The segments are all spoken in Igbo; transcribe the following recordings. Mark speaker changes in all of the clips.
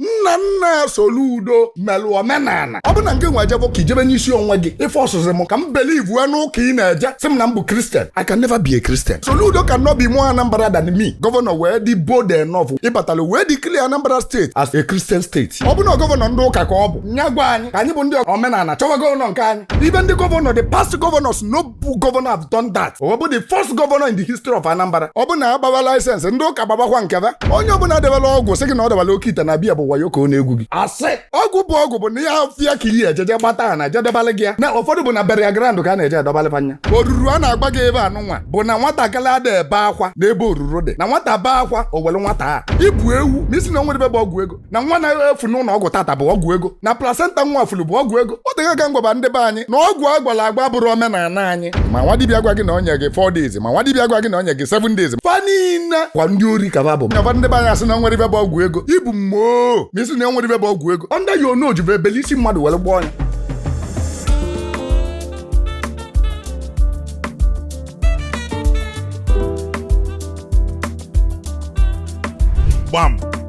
Speaker 1: nna nna Soludo melụ omenana ọ bụ na ngị nwa ejebe ụka ị jebe n'isi onwe gị ị fọsụzị m ka m believe n'ụka ị na-eje sị m na m bụ kristian I can never be a Christian Soludo can not be more Anambra than me gọvanọ wee dị bold enough ịbatala wee declare Anambra state as a Christian state ọ bụ na gọvanọ ndị ụka ka ọ bụ nya gwa anyị ka anyị bụ ndị omenana chọwa gọvanọ nke anyị even ndị gọvanọ the past gọvanọs no bụ gọvanọ have done that ọ bụ the first gọvanọ in the history of Anambra ọ bụ na a gbawa laịsensị ndị ụka gbabakwa nke be onye ọbụla debela ọgwụ sị gị na ọ debala oke ite na biya bụ wayo ka ọ na-egwu gị asị ọgwụ bụ ọgwụ bụ n'ajọ ọfịa ka iyi ejeje gbata ha na jedebala gị ya na ụfọdụ bụ na burial ground ka a na-eje edobalịba anya oruru a na-agwa gị ibe anụ nwa bụ na nwatakịrị ada ebe akwa n'ebe oruru dị na nwata bee akwa o were nwata a ị bụ ewu ma ị sị na o nwere ibe bụ ọgwụ ego na nwa na-efu n'ụlọ ọgwụ tata bụ ọgwụ ego na plasenta nwa furu bụ ọgwụ ego o tego aka m gwaba ndị be anyị na ọgwụ a gwọlụ agwọ abụrọ omenana anyị ma nwa dibịa gwa gị na o nye gị 4 days ma nwa dibịa gwa gị na o nye gị 7 days fa niile kwa ndị ori ka ba bụ nyaba ndị be anyị asị na nwere ibe bụ ọgwụ ego ị bụ mumu ma ị sị na nwere ibe bụ ọgwụ ego ndị ya onu ojuve e bele isi mmadụ were gwọọ
Speaker 2: nya gbam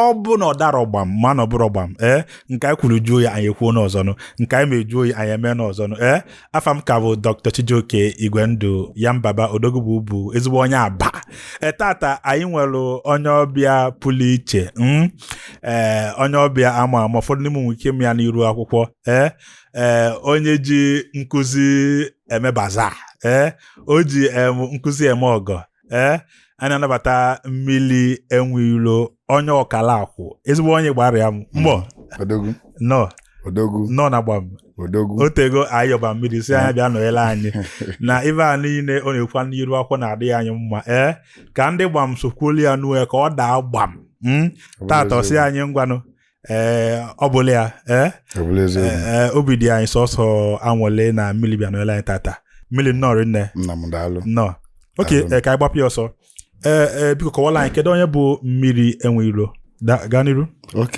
Speaker 2: ọ bụ na ọ darọ gbam ma na ọ bụrọ gbam ee eh, nke anyị kwuru jụọ oyi anyị ekwuo n'ọzọnụ nke anyị me jụọ oyi anyị emee n'ọzọnụ ee eh, afa m ka bụ Dr. Chijioke Igwendụ ya mbaba odogwu bụ bụ ezigbo onye Aba ee eh, tata anyị nwere onye ọbịa pụrụ iche hmm? ee onye ọbịa ama ama ụfọdụ n'ime nwere ike ma ya n'iru akwụkwọ ee ee onye ji nkụzi eme baza ee o ji nkụzi eme ọgọ ee eh, anyị na-anabata mmiri enwe ilo onye Ọkalakwụ ezigbo onye gbara ya mbọ hmm. nnọọ na gbam o tego anyị yọba mmiri sị nya bịa nọnyere anyị na ibe a niile ọ na-ekwu n'iru akwụkwọ na-adịrị anyị mma ee eh, ka ndị gbam sokwuolu ya n'uwe ka ọ daa gbam hmm. tata ọ sị anyị ngwanụ ee ọ bụla ya ee obi dị anyị sọsọ anwụlị na mmiri bịa nọnyere anyị tata mmiri nnọọ rinne nnọọ ok ka anyị gbapụ ya ọsọ ee ee biko kọwala anyị kedu onye bụ mmiri enwe ilo gaa n'iru
Speaker 1: ok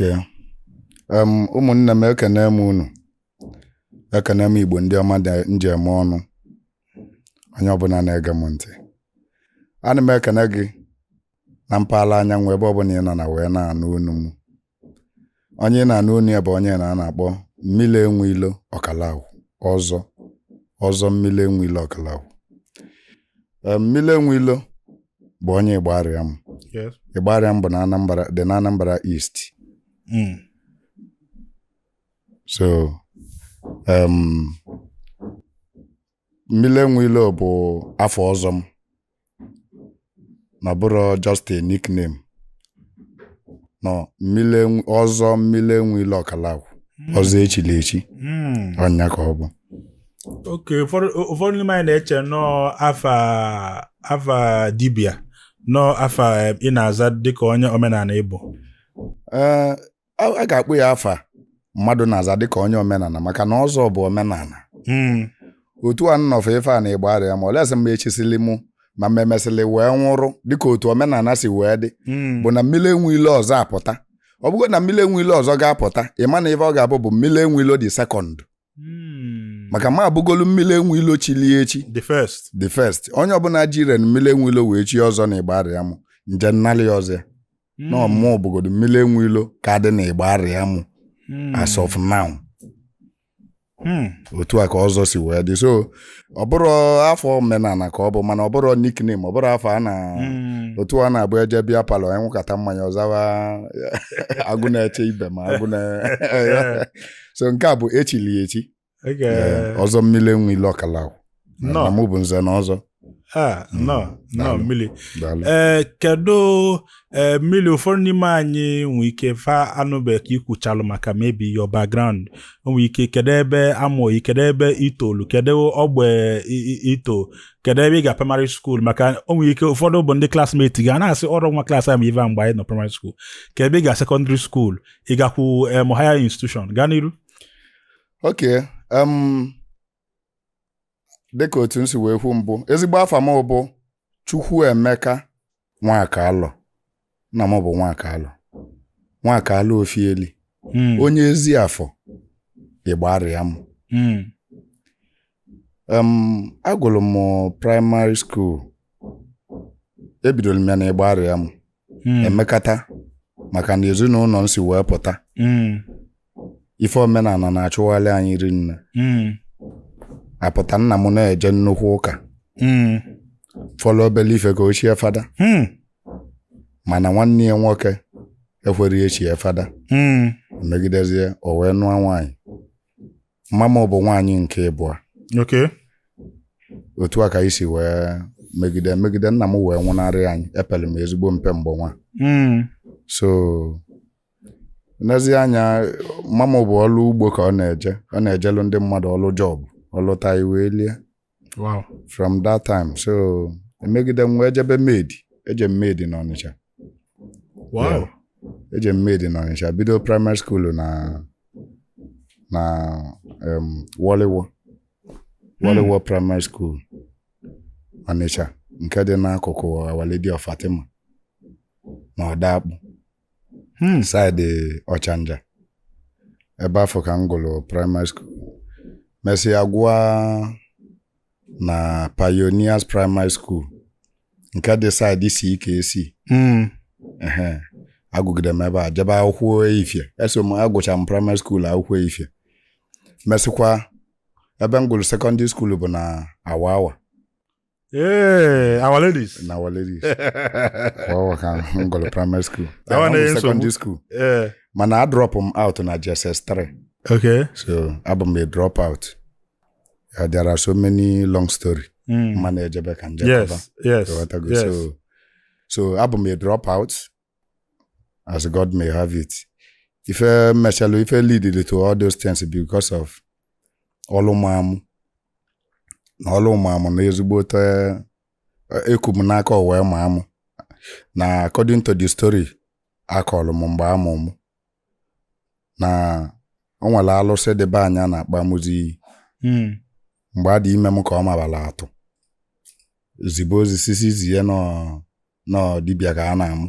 Speaker 1: ụmụnne m ekene m unu ekene m igbo ndị ọma ndị e ji eme ọnụ onye ọbụla na-ege m ntị ana m ekene gị na mpaghara anyanwụ ebe ọbụla ị nọ na wee na-anụ onu m onye ị na-anụ onu ya bụ onye na a na-akpọ mmiri enwe ilo Ọkalakwụ ọzọ ọzọ mmiri enwe ilo Ọkalakwụ Ee, mmiri enwe ilo bụ onye Igbariam Yes. Igbariam bụ na Anambra dị na Anambra East Mm. so um, mmiri enwe ilo bụ afa ọzọ m na abụrọ just a nickname no mmiri enwe- ọzọ mmiri enwe ilo Okalakwu ọzọ e chili echi Mm. ọ nya ka ọ bụ
Speaker 2: okay ụfọdụ ụfọdụ n'ime anyị na-eche na ọ afa afa dibia na ọ afa eh, ị na-aza dịka onye omenala ị bụ Ee, a
Speaker 1: a ga-akpọ ya afa mmadụ na-aza dịka onye omenala maka na ọzọ bụ omenala Mm. otu a m nọfụ ife a na Igbariam olesị mgbe e chisili mụ ma mmemesịlị wee nwụrụ dịka otu omenala si wee dị Mm. bụ na mmiri enwe ilo ọzọ apụta ọ bụgodu na mmiri enwe ilo ọzọ ga-apụta ị ma na ife ọ ga-abụ bụ mmiri enwe ilo the second Hmm. maka m abụgolu mmiri enwe ilo chili echi the first the first onye ọbụla jiri mmiri enwe ilo wee chi ọzọ na Igbariam m je nnalị ya ọzọ ya Hmm. na ọ mụ mụ bụgodo mmiri enwe ilo ka dị na Igbariam Hmm. as of now Hmm. otu a ka ọzọ si wee dị so ọ bụrụ afa omenala ka ọ bụ mana ọ bụrọ nickname ọ bụrọ afa a na Hmm. otu a na-abụ e je beer parlour a ṅụkata mmanya ọ zawa agụ na-eche ibe ma agụ na so nke a bụ e chili ya echi Oge- Ee, ọzọ mmiri enwe ilo Okalakwu Nnọọ. na mụ bụ nze na ọzọ Ah,
Speaker 2: nnọọ nnọọ Daalụ. mmiri daalụ ee kedu ee mmiri ụfọdụ n'ime anyị nwee ike fa anụbe ka i kwuchalu maka maybe your background o nwee ike kedu ebe a mụ gị kedu ebe i tolu kedu ogbe i- i- i to kedu ebe ị ga primary school maka o nwee ike ụfọdụ bụ ndị classmate gị a na-asị ọrọ nwa class anyị bụ ive a mgbe anyị nọ primary school kedu ebe ị ga secondary school ị gakwu em higher institution gaa n'iru
Speaker 1: ok em dịka otu m si wee kwu mbụ ezigbo afa m bụ Chukwuemeka Nwakalọ nna m bụ Nwakalọ Nwakalọ Ofieli Mm, onye Eziafọ Igbariam mm, em agụrụ m primary school ebidoro m ya na Igbariam Mm. emekata maka na ezinụlọ m si wee pụta Mm. ife omenala na-achụghalị anyị rinne Mm. apụta nna m na-eje nnukwu ụka Mm. fọlọ obele ife ka o chie fada Mm. mana nwanne ya nwoke ekwerọ ya chie fada Mm. megidezie o wee nụọ nwaanyị mama m bụ nwaanyị nke ịbụa okay otu a ka anyị si wee megide megide nna m wee nwụnarị anyị epele m ezigbo mpe mgbe nwa Mm. so n'ezie anya mama bụ ọlụ ugbo ka ọ na-eje ọ na-ejelu ndị mmadụ ọlụ job ọ lụta e wee lie
Speaker 2: wow from
Speaker 1: that time so emegide m wee jebe maid eje m maid
Speaker 2: n'ọnịcha wow
Speaker 1: eje m maid n'ọnịcha bido primary school na na um, wọlịwọ wọlịwọ hmm. primary school ọnịcha nke dị n'akụkụ our lady of fatima na odoakpụ Hmm. side ọchanja ebe afụ ka m gụrụ primary school mesịa gụọ na pioneers primary school nke dị side CKC Hmm. ehe agụgide m ebe a jebe akwụkwọ efifie eso m agụcha m primary school akwụkwọ efifie mesịkwa ebe m gụrụ secondary school bụ na our our
Speaker 2: Hey, our ladies. na our
Speaker 1: ladies Kwa ọwa ka m gụrụ primary school That one Ahụ bụ is secondary nsogbu. school Yeah. mana a drop m out na JSS 3 Okay.
Speaker 2: so abụ m
Speaker 1: a drop out Uh, there are so many long story Mm. mana ejebe ka m jekọba Yes. Yes. Ghọtago?
Speaker 2: yes. so
Speaker 1: so abụ m a drop out as God may have it ife mechalụ ife lead to all those things because of ọlụ ma mụ na ọlụ ma mụ na ezigbote eku m n'aka o wee ma mụ na according to the story a kọlụ m mgbe a mụ m na o nwere alụsị dị be anyị a na-akpọ amụzi iyi Mm. mgbe a dị ime m ka ọ mabara atụ zibe ozi sị sị zie na na ọ dibịa ka a na-amụ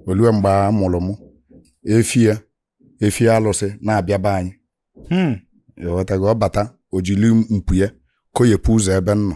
Speaker 1: o lue mgbe a mụrụ m efi ya efi alụsị na-abịa be anyị Mm. ị ghọtago ọ bata o jiri mpu ya koyepụ ụzọ ebe m nọ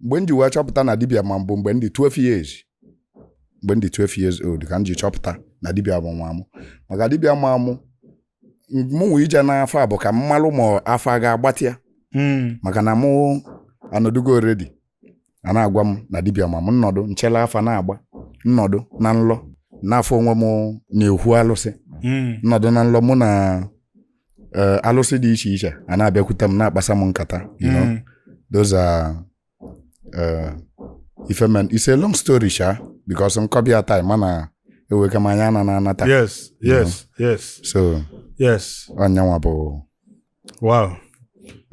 Speaker 1: mgbe m ji wee chọpụta na dibia ma m bụ mgbe m dị 12 years mgbe m dị 12 years old ka m ji chọpụta na dibia ma mụ maka dibia ma mụ mụnwa ije n'afa bụ ka m malụ ma afa ga-agbata ya Mm. maka na mụ anọdụgo already a na-agwa m na dibia ma m m nọdụ m chịlị afa na-agba m nọdụ na nlọ na-afụ onwe m n'okwu alụsị Mm. m nọdụ na nlọ mụ na eh, alụsị dị iche iche a na-abịakwute m na-akpasa m nkata you know Mm. those are uh, ife me it's a long story sha because m kọbe ya time mana eweka m anya na na-anata yes yes
Speaker 2: yes
Speaker 1: so yes ọ yanwa bụ
Speaker 2: wow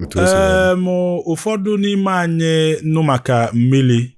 Speaker 2: otu o si wee- Em, ụfọdụ n'ime anyị nụ maka mmiri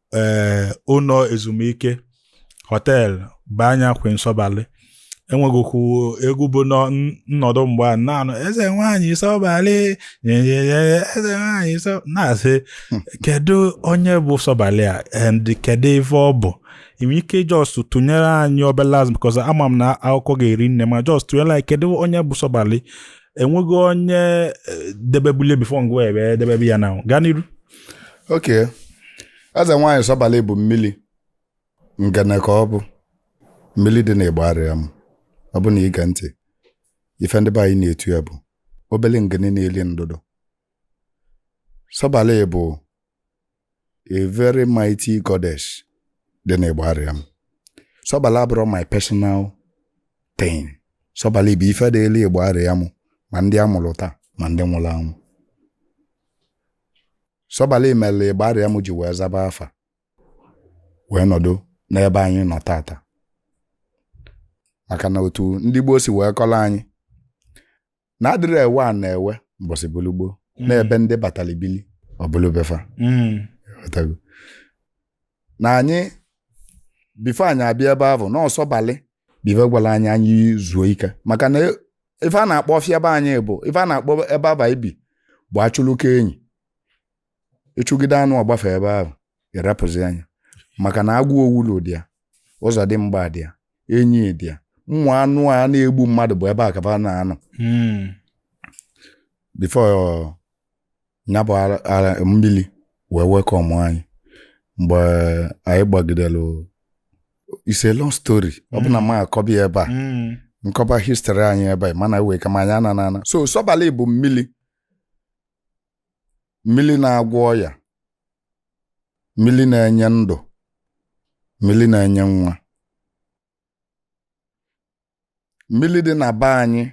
Speaker 2: ee eh, ụlọ ezumike hotel bụ anya queen sọbalị e nwegokwu egwu bụ nnọdụ mgbe a na-anụ eze nwaanyị sọbalị eze nwaanyị na-asị hmm. kedu onye bụ sọbalị a and kedu ife ọ bụ i nwee ike just tụnyere anyị obele as because ama m na akụkọ ga-eri nne ma just tụnyere anyị kedu onye bụ sọbalị enwego onye eh, debebulie before ngị edebebe ya na-aga n'iru okay
Speaker 1: eze nwaanyị Sọbalị bụ mmili ngene ka ọ bụ mmili dị n'Igbariam ọ bụ na ị gaa ntị ife ndị be anyị na-etu ya bụ obele ngene na-eli ndụdụ Sọbalị bụ a very mighty goddess dị n'Igbariam Sọbalị abụrọ my personal thing Sọbalị bụ ife dịlị Igbariam ma ndị a mụlụ taa ma ndị nwụlụ anwụ Sọbalị melu Igbariam ji wee zaba afa wee nọdụ n'ebe anyị nọ tata maka na otu ndị gboo si wee kọlụ anyị na adịrị ewe a na-ewe mbọsị bụlụ gboo n'ebe ndị batalị bili ọ bụlụ be fa Mm. Ghọtago? na anyị before anyị abịa ebe ahụ na ọ Sọbalị bụ ive gwalụ anyị anyị zuo ike maka na ife a na-akpọ ọfịa be anyị bụ ife a na-akpọ ebe ahụ anyị bi bụ achụlụka enyi ị chụgide anụ ọ gbafee ebe ahụ ị rapụzịa nya maka na agụ owulu dị ya ọzọdịmgba dị ya enyi dị ya ụmụ anụ a na-egbu mmadụ bụ ebe a ka fa na-anọ hmm. before nya bụ mmili wee welcome anyị mgbe anyị gbagidelu it's a long story ọ bụ na m hmm. akọbi ebe a hmm. nkọba history anyị ebe a mana wee kama anyị ana na ana so Sọbalị bụ mmili mmili na-agwọ ọya mmili na-enye ndụ mmili na-enye nwa mmili dị na be anyị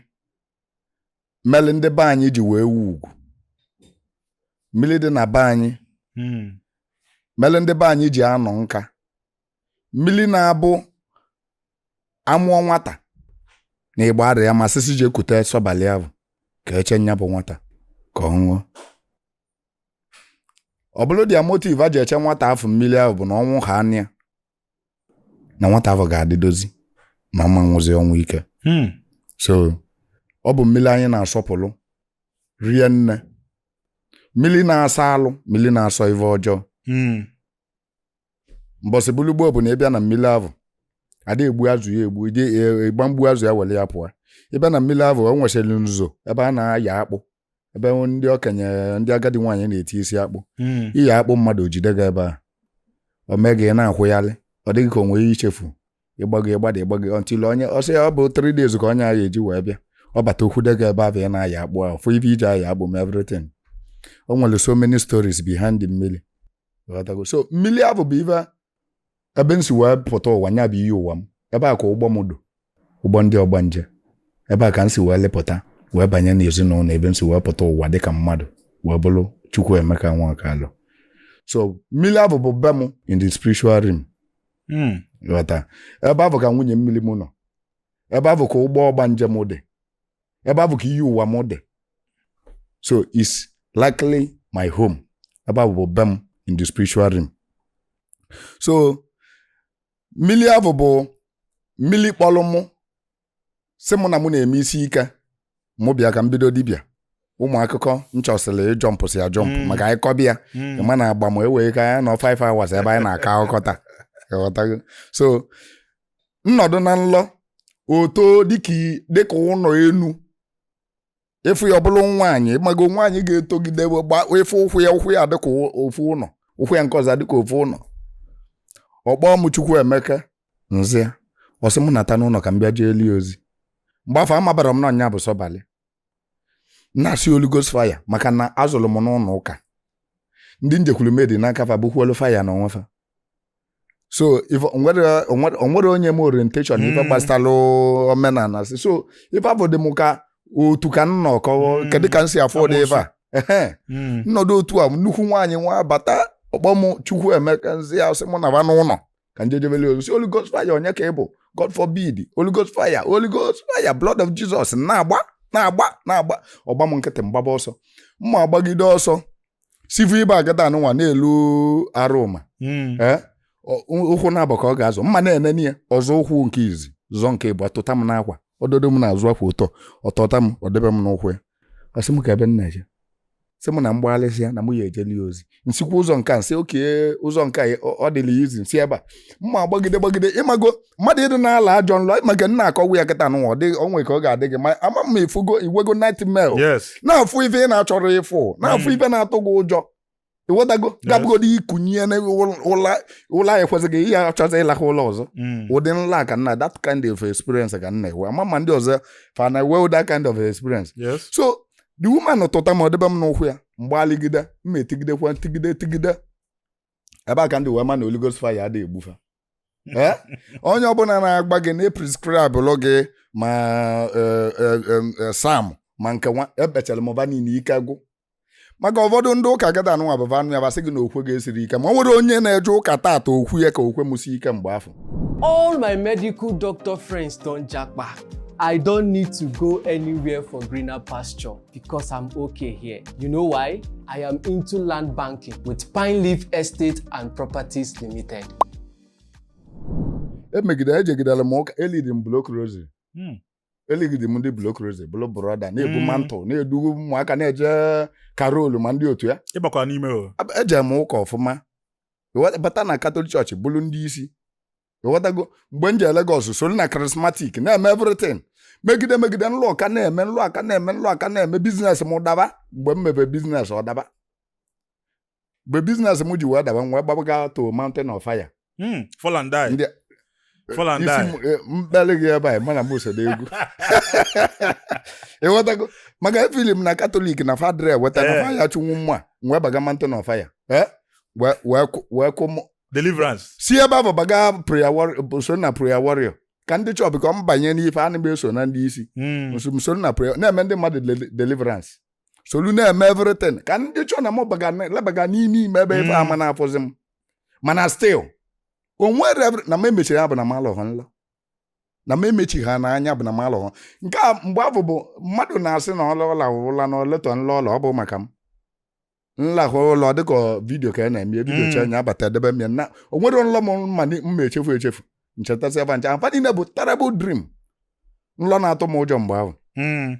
Speaker 1: melu ndị be anyị ji wee wu ugwu mmili dị na be anyị Mm. melu ndị be anyị ji anọ nka mmili na-abụ a mụọ nwata n'Igbariam a sị sị jee kute Sọbalị ahụ ka e chee nya bụ nwata ka ọ ṅụọ ọ bụlụ their motive a ji eche nwata afụ mmili ahụ bụ na ọ ṅụhaa nya na nwata afụ ga-adịdozi na ọ ma nwụzi ọnwụ ike Hmm. so ọ bụ mmili anyị na-asọpụlụ rinne mmili na-asọ alụ mmili na-asọ ife ọjọọ Hmm. mbọsị bụlụ gboo ọ bụ na ị bịa na mmili ahụ ada egbu azụ ya egbu ide ịgba mgbu azụ ya wele ya pụọ ị bịa na mmili ahụ o nwesịrị nzuzo ebe a na-aya akpụ ebe ndị okenye ndị agadi nwaanyị na-eti isi akpụ Mm. iyi akpụ mmadụ o jide gị ebe a o mee gị ị na-akwụgharị ọ dị gị ka o nwee ihe i chefu ị gbago ị gbada ị gbago until onye ọsị ya ọ bụ 3 days ka onye ahụ eji wee bịa ọ bata o kwude gị ebe ahụ ị na-aya akpụ ahụ fụ ife i ji aya akpụ ma everything o nwere so many stories behind the mmili ghọtago so mmili ahụ bụ ife ebe m si wee pụta ụwa nya bụ iyi ụwa m ebe a ka ụgbọ m dụ ụgbọ ndị ọgbanje ebe a ka m si wee lịpụta wee banye n'ezinụlọ ebe m si wee pụta ụwa dịka mmadụ wee bụrụ Chukwuemeka Nwaọkalụ so mmili ahụ bụ be m in the spiritual realm Mm. ghọta ebe ahụ ka nwunye mmili m nọ ebe ahụ ka ụgbọ ọgbanje m dị ebe ahụ ka iyi ụwa m dị so it's likely my home ebe ahụ bụ be m in the spiritual realm so mmili ahụ bụ mmili kpọlụ mụ sị mụ na mụ na-eme isi ike mụ bịa ka m bido dibịa ụmụ akụkọ m chọsịlị ịjọmpụsị ajọmpụ mm. maka anyị kọba ya mm. ị ma na agba ma ewee ka anyị nọ 5 hours ebe anyị na-akọ akụkọ taa so m nọdụ na nlọ o too dịka i- dịka ụnọ enu ị fụ ya ọ bụlụ nwaanyị ị mago nwaanyị ga-etogide wee gba ị fụ ụkwụ ya ụkwụ ya dịka ụ- ofu ụnọ ụkwụ ya nke ọzọ dịka ofu ụnọ ọ kpọọ m Chukwuemeka m za ya ọ sị m nata n'ụnọ ka m bịa jeeli ya ozi mgbe afụ amabarọ m na ọ nya bụ sọbalị na-asị Holy Ghost fire maka na a zụlụ m n'ụnọ ụka ndị m jekwu remedy n'aka fa bụkwuolu fire na onwe fa so if o nwere o nwere- o nwere onye m orientation ife Mm. gbasalụ omenala si so ife afụ dị m ka otu ka m nọ kọwa Mm. kedu ka m si afụ ụdị ife a Ehe. Mm. m nọdụ otu a nnukwu nwaanyị nwa bata ọ kpọọ m Chukwuemeka m za ya sị mụ naba n'ụnọ ka m je jebeli ya ozi sị Holy Ghost fire onye ka ị bụ God forbid Holy Ghost fire Holy Ghost fire blood of Jesus na-agba na-agba na-agba ọ gba m nkịtị m gbaba ọsọ m na-agbagide ọsọ sivu ibe agada anụnwa na-elu arụma Mm. ee ọ- ụkwụ na-abụ ka ọ ga-azọ m m na-enene ya ọ zọọ ụkwụ nke izi zọ nke ịbụa tụta m n'akwa ọ dọdo m n'azụ akwa ọ tụ- ọ tụta m ọ debe m n'ụkwụ ya sị m kee ebe m na-eje sị m na m gbaghalịsịa na mụ ya-ejeli ya ozi m sikwa ụzọ nke a m si oke ụzọ nke a ọ- ọ dịla ya izi m si ebe a m na-agbagide gbagide ị mago mmadụ ịdị na-alọ ajọ nlọ maka m na-akọwa ya kịta nụnwa o nwee ka ọ ga-adị gị ma ama m ị fụgo i nwego nightmare yes na-afụ ife ị na-achọrọ ịfụ na-afụ Mm. ife na-atụ gị ụjọ ị ghọtago ga-abụgodu i kunie na ụla ụla ya ekwesịghị ihe achọzi ịlakwa ụla ọzọ Mm. ụdị nlọ ka m na that kind of experience ka m na-enwe ama m ma ndị ọzọ fa na-enwe that kind of experience yes so the woman tụta m ọ debe m n'ụkwụ ya m gbaligide m etigidekwa tigide tigide ebe a ka m ji wee ma na Holy Ghost fire adịghị egbu fa Eh? onye ọbụla na-agwa gị na-eprescribelụ gị ma eh, eh, em, eh, Psalm ma nke nwa ekpechala mụ fa niine ike gwụ maka ụfọdụ ndị ụka gada anụnwa bụ fa nụ ya fa asị gị na okwe gị esirọ ike ma o nwerọ onye na-eje ụka tata okwe ya ka okwe mụ si ike mgbe afụ All
Speaker 3: my medical doctor friends don japa. I don't need to go anywhere for greener pasture. Because I'm okay here. You know why? I am into land banking with Pine Leaf Estate and Properties Limited.
Speaker 1: emegide ejegidere m ụka elidi m Block Rosary Hmm. eligide m ndị Block Rosary bụlụ brọda na-ebu Mm. mantle na-edu ụmụaka na-eje carol ma ndị otu a ịgbakwa n'ime o Ab-
Speaker 2: eje m ụka ọfụma
Speaker 1: Wa- bata na Catholic Church bụlụ ndị isi ịghọtago mgbe m jee Lagos solu na Charismatic na-eme everything megide megide nlọ a ka na-eme nlọ a ka na-eme nlọ a ka na-eme business m daba mgbe m mebe business ọ daba mgbe business m ji wee daba m wee gbabaga to Mountain of Fire Hmm, fall and
Speaker 2: die. Ndị- Fall and isi die. m-
Speaker 1: eh, mkpali gị ebe a mana m so n'egwu ịghọtago maka efili m na Catholic na fa adịrọ eweta na Eh. fire chụnwu mma m wee baga Mountain of Fire Eh? wee- wee kụ- wee kụ mụ- deliverance
Speaker 2: si ebe ahụ
Speaker 1: baga prayer warrior so na prayer warrior ka ndị chọọbụ ka m banye n'ife a na eso na ndị isi Mm. nso m soro na prayer na-eme ndị mmadụ deli- deliverance solu na-eme everything ka ndị chọọ na m baga lebaga n'ime ime ebe ife ama na-afụzi m mana still o nwere every- na m emechiri anya bụ na m alọghọ nlọ na m emechi anya bụ na m alọghọ nke a mgbe afụ bụ mmadụ na-asị na ọ laa ọ laa ụla na oletọ nlọ ọla ọ bụ maka m nlakwa ụla ọ dịka video ka a na-eme ya, video Mm. chee nya abata edebe m ya na o nwere nlọ m ma ni- ma echefu echefu nchetasị fa ncha fa niile bụ terrible dream nlọ na-atụ m ụjọ mgbe ahụ Mm.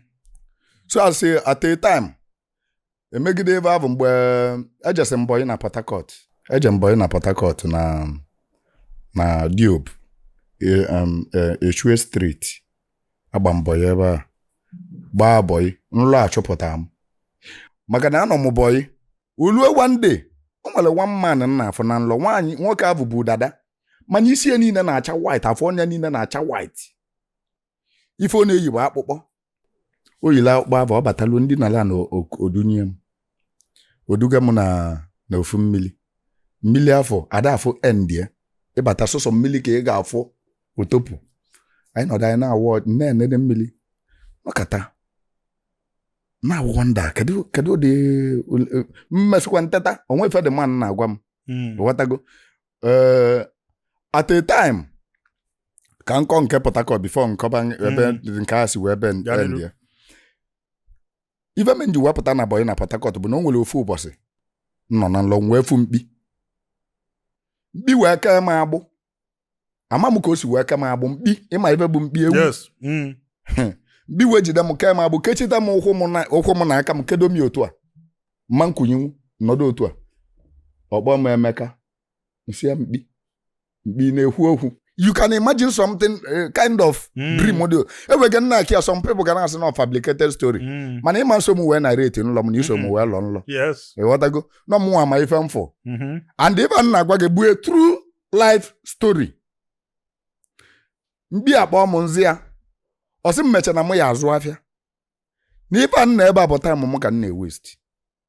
Speaker 1: so as in at a time emegide ife ahụ mgbe ejesi m bọyị na Port Harcourt eje m bọyị na Port Harcourt na na Diobu e- um, e- Echue Street agba m bọyị ebe a gbaa bọyị nlọ achụpụta m maka na anọ m bọyị o lue one day o nwere one man m na-afụ na nlọ nwaanyị nwoke ahụ bụ dada mana isi ya niile na-acha white afọ ọnụ ya niile na-acha white ife ọ na-eyi bụ akpụkpọ o yiri akpụkpọ ahụ ọ batalụ m dina ala na o dunye m o duga m na na ofu mmili mmili afụ ada afụ end ya ị bata sọsọ mmili ka ị ga-afụ otopu anyị nọdụ anyị naawọ na-enede mmili m nọkata na-awonder kedu kedu ụdị mmesịkwa nteta o nwe ife the man na-agwa m Mm. ghọtago Eh, at a time ka m kọọ nke Port Harcourt before m kọba ebe Mm. nke a si wee be Ya dịrị. ndị ife mee m ji wee pụta na bọyị na Port Harcourt bụ na o nwere ofu ụbọsị m nọ na nlọ m wee fụ mkpi mkpi wee kee m agbụ ama m ka o si wee kee m agbụ mkpi ị ma ife bụ mkpi ewu yes mm. mkpi wee jide m kee m agbụ kechita m ụkwụ m na- ụkwụ m na aka m kedo m ya otu a ma m kunienwu m nọdụ otu a ọ kpọọ m Emeka m sị ya mkpi mgbe ị na-ekwu okwu you can imagine something eh, kind of Mm. dream dị o. enweghị nna akị ya some people ga na-asị na fabricated story Mm. mana ịma nso m wee narrate nlọ m na iso m wee lọ nlọ Yes. ịghọtago
Speaker 2: na mụnwa
Speaker 1: ma ife m fụ Mhm. and ife a na-agwa gị bụ a true life story mkpi akpa m nzi ya ọ sị m mecha na mụ ya azụ afịa na ife a nna ebe a bụ time m ka m na-ewesti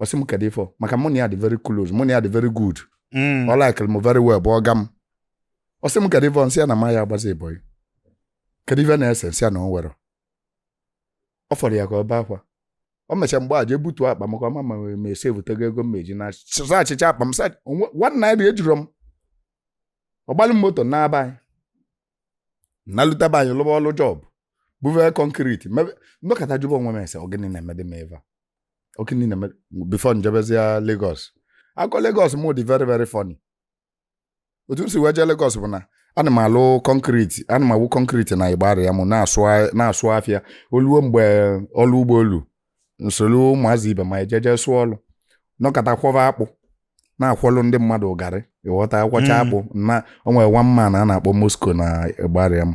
Speaker 1: ọ sị m kedu ifo maka mụ na ya dị very close mụ na ya dị very good Mm. ọ likere m very well bụ ọga m ọ sị m kedu ifo m sị ya na m aya agbazi bọyị kedu ife na-ese m sị ya na o nwerọ ọ fọrọ ya ka o bee akwa o mechaa mgbe a jee butuo akpa maka ọ ma na m esevutego ego m ma-eji naa searchichaa akpa m sa onwe- one naira ejiro m ọ gbalị m moto naa be anyị nalute be anyị lụba ọlụ job buve concrete mebe nọkata jụba onwe m ese ọ gịnị na-emede m ebe a ọ gịnị na-eme before m jebezia Lagos akọ Lagos mụ dị very very funny otu m si wee jee Lagos bụ na ana m alụ concrete ana m awụ concrete na Igbariam mụ na-asụ a- na-asụ afịa oluo mgbe ọlụ ugbo elu m solu ụmụazị ibe m ejeje sụọ ọlụ nọkata kwọba akpụ na-akwọlụ ndị mmadụ garri ịghọta akwọcha Mm. akpụ na o nwere one man a na-akpọ Moscow na Igbariam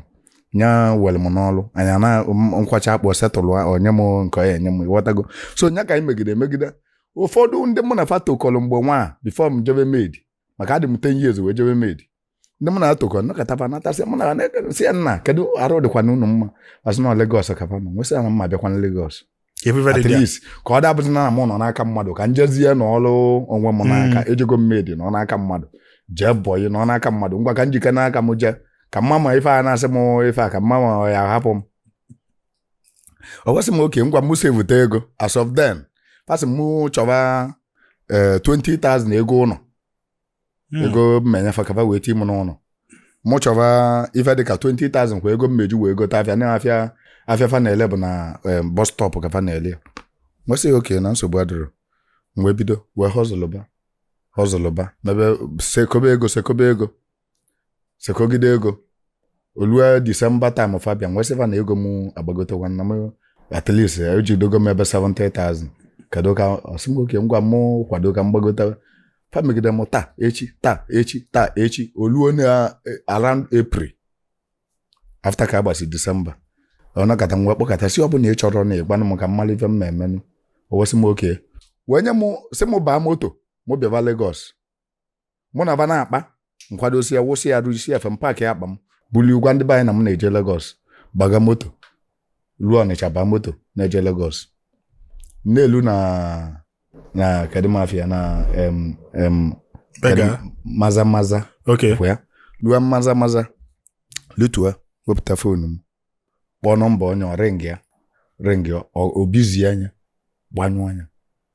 Speaker 1: nya welu m n'ọlụ anya na m- m kwọchaa akpụ settle o nye m nke ọ ya enye m ịghọtago so nya ka anyị megide emegide ụfọdụ ndị mụ na fa tokọlụ mgbe nwa before m jebe maid maka adị m 10 years wee jebe maid ndị mụ na fa tokọ nakọtaba natasị mụ na-asị ya nna kedu arụ dịkwanụ unu mma a sị na Lagos ka fa nọ m wee sị ya na m ma-abịakwa na Lagos at least ka ọ dabụzi na mụ nọ n'aka mmadụ ka m jezie nọlụ onwe m n'aka hmm. ejego m maid nọ n'aka mmadụ jee bọyị nọ n'aka mmadụ ngwa ka m jikene aka m jee ka m maa ma ife a na-asị m ife a ka m maa ma ọ ya-ahapụ m o wee sị m okay ngwa m sevute ego as of then fa sị m chọba 20,000 eh, ego ụnọ hmm. ego m ma-enye fa ka fa wee ti mụ n'ụnọ mụ chọba ife dịka 20,000 kwa ego m ma-eji wee gote afịa na afịa afịa fa na-ele bụ na eh, bus stop ka fa na-ele m wee sị okay na nsogbu adịrọ wee bido wee hustleba hustleba mebe sekọbe ego sekọbe ego sekọgide ego olue December time fa bịa m wee sị fa na ego m agbagotekwa na m at least ejidogo m ebe 70,000 kedu ka ọ sị m okay ngwa m kwado ka m gbagote fa megide m taa echi taa echi taa echi oluo na eh, around April after ka a gbasị December ọ nọkata m wee kpọkata sị ọ bụ na ị chọrọ na ị gwanụ m ka m mara ife m na-emenụ o wee sị m okay wee nye m sị m baa moto mụ bịaba Lagos mụ na ba na-akpa m kwadosia wụsịa arụ yisie efe m paakị akpa m bulie gwa ndị be anyị na m na-eje Lagos gbaga moto ruo Ọnịcha baa moto na-eje Lagos na-elu na na kedu ma afa ya na em em Bega. kedu- Maza Maza Okay. ka ya
Speaker 2: luo
Speaker 1: Maza Maza lutua wepụta foonu m kpọọ nọmba onye ọ rịngịa rịngịa ọ- o bizie nya gbanyụọ nya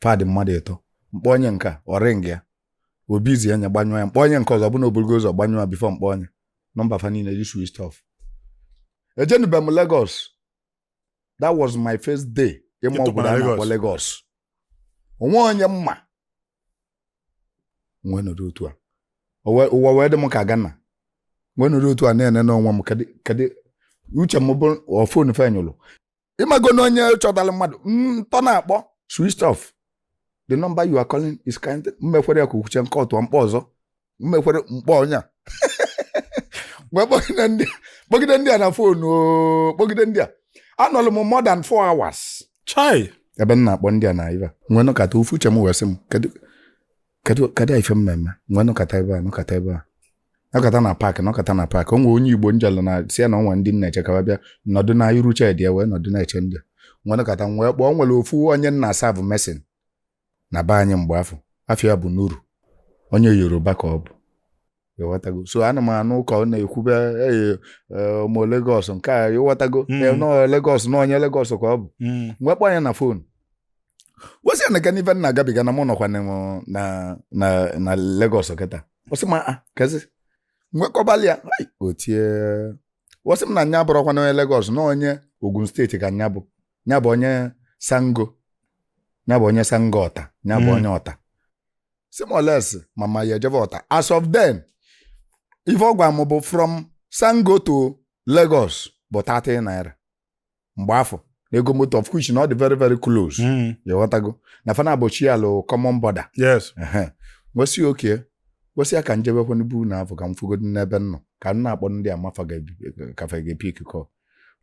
Speaker 1: fa dị mmadụ ịtọ m kpọọ onye nke a ọ rịngịa o bizie nya gbanyụọ ya m kpọọ onye nke ọzọ ọ bụ na o bulugo ụzọ gbanyụọ ya before m kpọọ nya nọmba fa niile dị switch off ejenube m Lagos that was my first day ịma Ịtụkwa ụkwụ na obodo a na-akpọ Lagos. Lagos o nwee onye m ma m wee nọdụ otu a ụwa wee dị m ka ọ ga-ana m wee nọdụ otu a na-ene n'onwe m kedụ uche m bụ ọ fon fa nyụlụ ịmago na onye chọtara mmadụ n'ịtọ na-akpọ switch off the number you are calling is kind m mekwere ya ka ukwuche nke ọtụọ m kpọọ ọzọ m mekwere m kpọọ onye a wee kpọgide ndị kpọgide ndị a na fon oo kpọgide ndị a anọlụ m more than four hours chai ebe
Speaker 2: m na-akpọ ndị
Speaker 1: a na ife m wee nọkata ofu uche m wee sị m kedu kedu kedu ife m me-eme m wee nọkata ebe a nọkata ebe a nọkata na paakị nọkata na paakị o nwee onye Igbo m jelụ na sị ya na o nwe ndị m na-eche ka m bịa nọdụ na iru shedi ya wee nọdụ na-eche ndị a. m wee nọkata m wee kpọọ o nwere ofu onye m na-asaavụ mason na be anyị mgbe afụ afa ya bụ Nuru onye Yoruba ka ọ bụ ịghọtago so ana m anụ ka ọ na-ekwube ee ụmụ Lagos nke a ịghọtago Mm. ee, nọọ Lagos na onye Lagos ka ọ bụ Mm. m wee kpọọ nya na fon wee sị ya nekene ife m na-agabiga na mụ nọkwa na na na na Lagos kịta wee sị m aa kezi m wee kọbalị ya ai, o tie wee sị m na nya bụrọkwanụ onye Lagos na onye Ogun steeti ka nya bụ ya bụ onye Sango ya bụ onye Sango Ọta ya bụ Mm. onye Ọta sị m unless ma m ya-ejebe Ọta as of then ife ọ gwa m bụ from Sango to Lagos bụ 30 naira mgbe afụ na ego moto of which na ọ dị very very close Mm. ịghọtago na fa naabọ shiaalụ common border yes
Speaker 2: Ehe. wee
Speaker 1: sị okay wee sị ya ka m jebekwa na be unu afụ ka m fụgodi n'ebe m nọ ka m na-akpọ ndị a ma fa ga-epi- ka fa ga-epiki kọl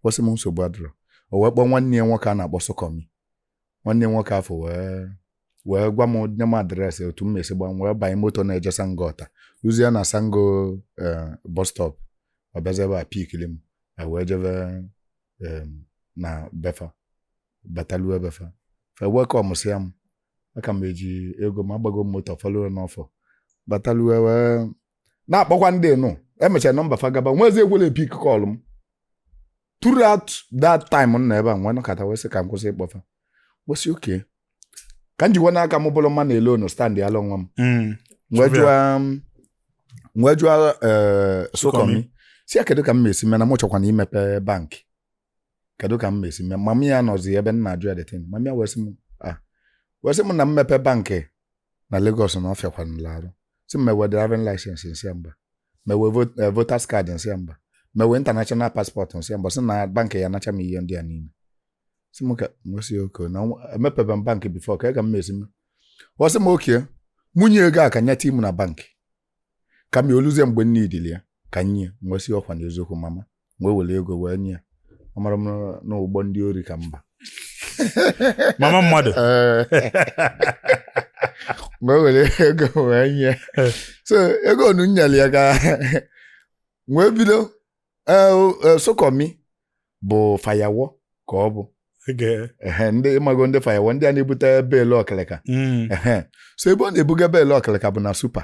Speaker 1: ọ sị m nsogbu adịrọ o wee kpọọ nwanne ya nwoke a na-akpọ Sokọmi nwanne ya nwoke afụ wee wee gwa m nye m adreesị otu m me-esi gba m wee banye moto na-eje Sango Ọta luzie na Sango eh, bus stop ọ bịazi ebe a pikili m a wee jebe em, na be fa batalụ be fa fa welkọmsịa m aka m eji ego m agbago m moto fọlụrụ n'ọfọ batalu wee na-akpọkwa ndị nụ emecha nọmba fa gaba nwezi ekwela pick call m throughout that time m na ebe a m wee nọkata wee sị ka m kwụsị ịkpọ fa wee sị okay ka m jikwa n'aka m bụrụ mma na ele onu stand ala onwe m Mm. wee Chụpụ jụọ m- wee jụọ eh, Sụkọmị. sụkọmị sị ya kedu ka m mesi mee na mụ chọkwanụ imepe bankị kedu ka m mesi mee mama ya nọzi ebe m na-ajụ ya the thing mama ya wee sị m ah wee sị m na mmepe bankị na Lagos na ọ fịakwanụla arụ sị m enwe driving license m sị ya mba m enwe vot- eh, voters card m sị ya mba m enwe international passport m sị ya mba sị na bankị ya-anacha m ihe ndị a niile sị m ka m wee sị okay na nwa- emepebe m bankị before kee ka m mesi mee ọ sị m okay mụ nye ego a ka nya tinye m na bankị ka ma o luzie mgbe m needili ya ka nye m wee sị ọkwa na eziokwu mama m wee were ego wee nye ya amarọ m na- na ụgbọ ndị ori ka m
Speaker 2: ba mama
Speaker 1: mmadụ m wee were ego wee nye ya. so ego onu m nyeli ya ka m wee bido eh, o- eh, Sụkọmị bụ fayawo ka ọ bụ Okay. Ehe, ndị ị mago ndị fayawo ndị a na-ebute beelu ọkịlịka Mm. Ehe. so ebe ọ na-ebuga beelu ọkịlịka bụ na Super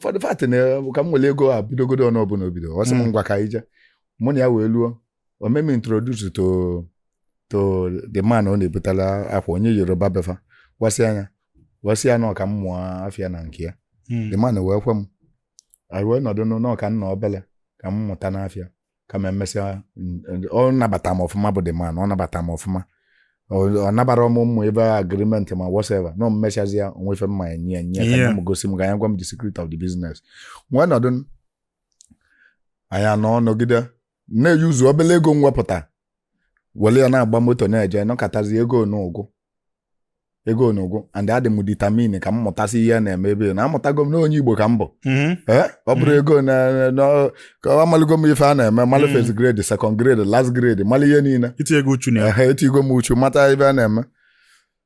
Speaker 1: for the fact na ka m were ego a bidogodu ọnụ ọbụla obido wee sị m Mm. ngwa ka anyị jee mụ na ya wee luo o mee m introduce to to the man ọ na-ebutala akwa onye Yoruba be fa wee sị ya nya wee sị ya na ọ ka m mụọ afịa na nke ya Mm. the man wee kwe m anyị wee nọdụ n'ụnọ ka m nọ obele ka m mụtanụ afịa kama emesịa ọ nabata m ọfụma bụ the man ọ nabata m ọfụma ọ nabarọ m ụmụ ife agreement ma whatever na m mesịazịa o nwee ife m ma enye ya nya gosi m ka nya gwa m the secret of the business m wee nọdụ anyị anọ nọgide na-euse obele ego m wepụta were ya na-agba moto na-eje nọkatazi ego nụ agwụ ego onu agwụ and adị m determined ka m mụtasị ihe a na-eme ebe na amụtago m na onye Igbo ka m bụ mhm. eh, ọ bụrụ mhm. ego ka amalụgo m ife a na-eme malụ mhm. first grade second grade last grade malụ ihe niile itigo uchu
Speaker 2: na etigo m uchu mata
Speaker 1: ife a na-eme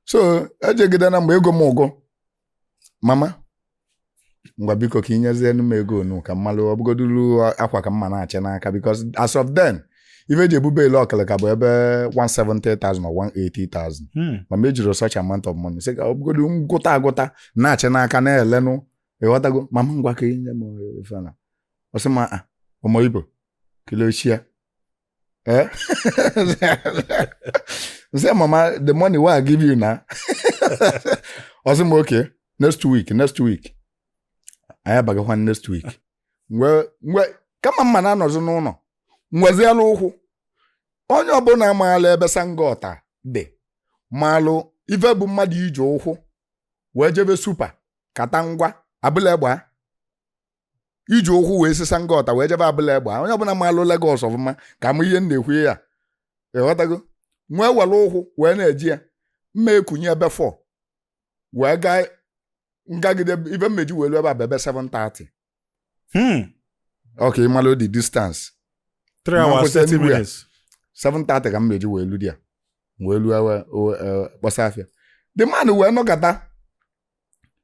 Speaker 1: so ejegide na mgbe ego m agwụ mama ngwa biko ka i nyezienu m ego onu ka m malụ ọ bụgodulu akwa ka m ma na-achị n'aka because as of then ife e ji ebu beelu ọkịlịka bụ ebe 170,000 or 180,000 Hmm. ma m ejirọ such amount of money sị ka ọ bụgodu m gụta agụta na-achị n'aka na-elenụ ị ghọtago mama ngwa ka i nye m ife nụ ọ sị m "Ah, ọmọ Ibo kilo ṣe ẹ Eh? say, Mama, the money wey I give you na. Ọ sị m, okay, next week, next week. Anyị abagakwa next week. Mgbe ka mama na-anọzị n'ụnọ. M weziela ụkwụ. Onye ọbụla maala ebe Sango Ota dị malụ ife bụ mmadụ iji ụkwụ wee jebe Super Katangwa Abule Egba iji ụkwụ wee si Sango Ota wee jebe Abule Egba onye ọbụla maalụ Lagos ọfụma ga-ama ihe m na-ekwu ya ịghọtago m wee were ụkwụ wee na-eje ya m ma-ekunie ebe 4 wee gaa m gagide ife m ma-eji wee lu ebe a bụ ebe 7:30 Hmm. ọ ka ị malụ the distance 3
Speaker 2: hours 30 minutes 7:30 ka
Speaker 1: m ma-eji wee lu there M wee lu wee kpọsa afịa the man wee nọkata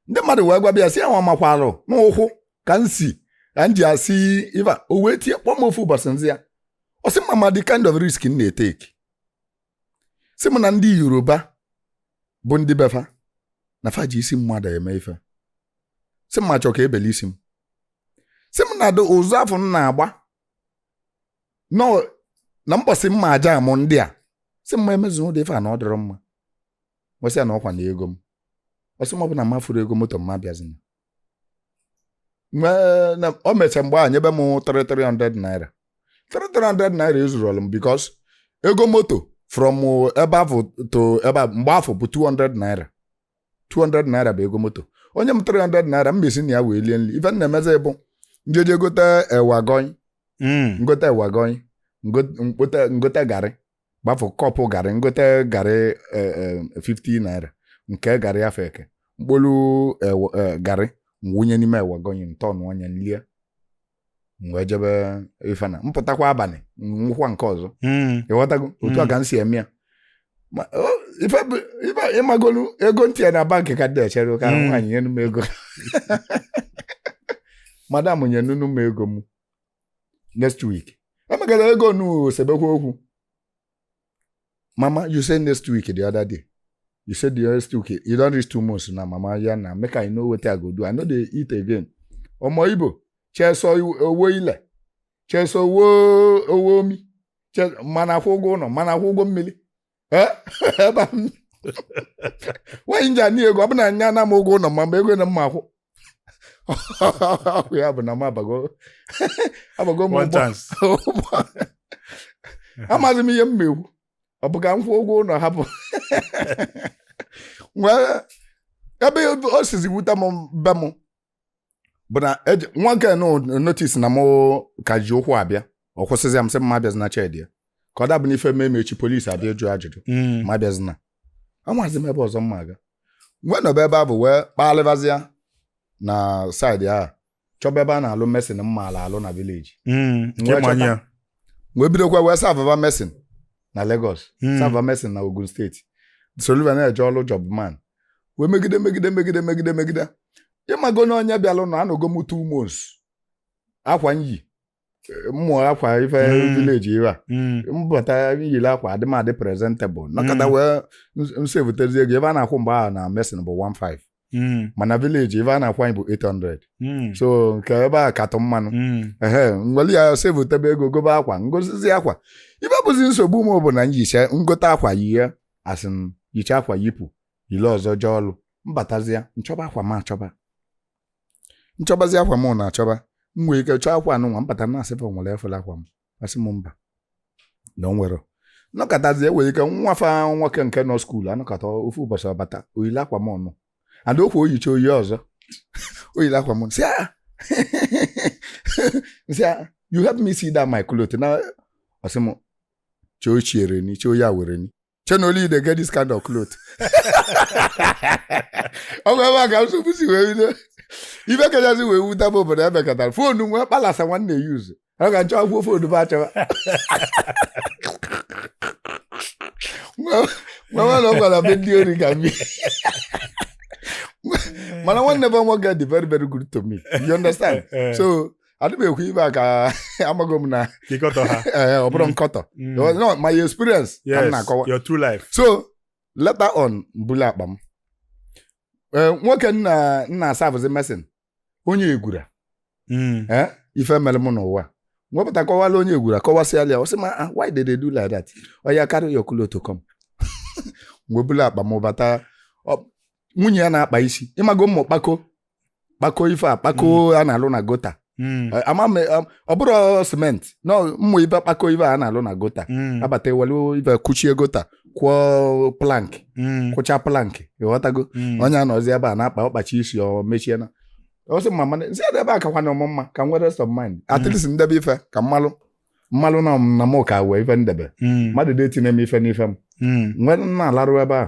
Speaker 1: ndị mmadụ wee gwaba ya sị ya nwa makwarụ n'ụkwụ ka m si ka m ji asị iva o wee tie kpọọ m ofu ụbọchị m za ya ọ sị m m ama the kind of risk m na-etake sị m na ndị Yoruba bụ ndị be fa na fa ji isi mmadụ eme ife sị m m achọ ka e bele isi m sị m na ụdị ụzọ afụ m na-agba nọ na mbọsị m ma-ajam ndị a sị m m emezi ụdị ife a na ọ dịrọ mma m wee sị ya na ọkwa na ego m ọ sị m ọ bụlụ na m afụrọ ego moto m abịazina o mechaa mgbe ahụ nyebe m 300 naira 300 naira ezurọlụ m because ego moto from ebe afụ to ebe mgbe afụ bụ 200 naira 200 naira bụ ego moto o nye m 300 naira m ma-esi na ya wee lie nri ife m na-emezi bụ m jee je gote ewa agoyin m gote ewa agoyin m gote garị bụ half cup garị m gote garị eh, eh, 50 naira nke garị afụ e ke m kpolu eh, wa- eh, garị m wụnye n'ime ewa agoyin m turnụọ ya m lie wee jebe ife na m pụtakwa abalị m ṅụkwa nke ọzọ Mm. ịghọtago otu a Mm. ka m si eme ya Ma- o, ife bụ- ife ị magolu ego m tiye na bank ka dị echere ka Mm. nwaanyị nyenu m ego madam nyenunu m ego m next week emegara ego nu sebekwa okwu mama you say next week the other day you say the next week you don reach two months na mama ya na make i know wetin i go do i no dey eat again ọmọ ibo cheso owo ile cheso owo owo omi mana akwụ ụgwọ ụlọ mana akwụ ụgwọ mmiri ebe nwaanyị m ji anị ego ọ bụ na a na-ana m ụgwọ ụlọ ma mgbe ego na m ma-akwụ ọkụ ya bụ na m abago abago m ụgbọ amaghị m ihe m ma-ekwu ọ bụ ka m kwụọ ụgwọ ụlọ hapụ ebe o sizi wute m be m bụ na eje- nwoke nụ notice na mụ ka ji ụkwụ abịa ọ kwụsịzịa m sị m m abịazina shed ya ka ọ da abụ na ife mee m echi police abịa jụọ ajụjụ Mm. m abịazina amazi m ebe ọzọ m ma-aga wee nọba ebe afụ wee kpalịbazịa na side ahụ chọba ebe a na-alụ mason m maalụ alụ na village Mm. wee bidokwa wee serveba mason na Lagos Mm. serve mason na Ogun State solu fa na-eje ọlụ jobman wee megide megide megide megide megide ị mago na onye bịalụ na anọgo m two months akwa m yi bụ akwa ife Mm. village ebe a Mm. m bata yiri akwa adị m adị presentable nakọta Mm. wee m savetezie ego ebe a na-akwụ mgbe ahụ na mason bụ 15 Mm. mana village ife a na-akwụ anyị bụ 800 Mm. so nke ebe a katụ mma nụ Mm. ehe nwelu ya savetebe ego gobe akwa ngozizi akwa ife bụzi nsogbu m bụ na nyicha ngote akwa yie a sị m yicha akwa yipụ yili ọzọ jee ọlụ mbatazia nchọba akwa m achọba nchọbazi akwa m na achọba m nwee ike chọọ akwa anụnwa mbata na-asị fa o nwere fụlụ akwa m a sị m mba na o nwero anọkatazi e nwere ike nwa fa nwoke nke nọ school anọkata ofu ụbọchị ọ bata o yili akwa m ọnụ ada okwu o yicha o yi ọzọ o yili akwa m sị "Ah, sị "Ah, you help me see that my cloth na ọ sị m chee ochiere ni chee oyi awere ni shey na only you dey get this kind of cloth ọ bụ ebe a ka nsogbu si wee bido ife kachasị wee wuta bụ obodo e mekatara phone nwa kpalasa nwa m na-use oga nchọwakwukwa phone ahụ achọwa m ma na ọ gwara be ndị ori ka m bi mana nwanne bụ nwoke dị very very good to me you understand so adị m ekwu ife a ka amaghị m na ka ịkọtọ ha
Speaker 2: ee, ọ bụrụ Mm.
Speaker 1: nkọtọ Mm. No, my experience ka m yes na-akọwa your true
Speaker 2: life so
Speaker 1: later on mbuli akpa m Ee, nwoke m na-asavụzi mason onye Egbura Mm. ee, ife mere m n'ụwa nwepụta kọwalu onye Egbura kọwasịala ya ọ sị m "Ah, why did they do like that oya carry your cloth come m wee bulu akpa m bata Ọ- nwunye ya na-akpa isi ịmago ụmụ kpako kpako ife a kpako hmm. a na-alụ na gutter hmm. eh, ama m eh, ọ bụro cement na ọ ụmụ ife kpako ife a na-alụ na gutter hmm. a bata e welu ife kuchie gutter kụọ plank kụcha plank ịghọtago nwunye ya anọzi ebe a na-akpa ọ kpacha isi o mechie na ọ sị m mana nsị ebe a kakwanụ m mma ka m nwee rest of mind at least ndebe ife ka m malụ m malụ na na m ga-ewe ife ndebe mmadụ adị etinye m ife n'ife m nwee na-alarụ ebe a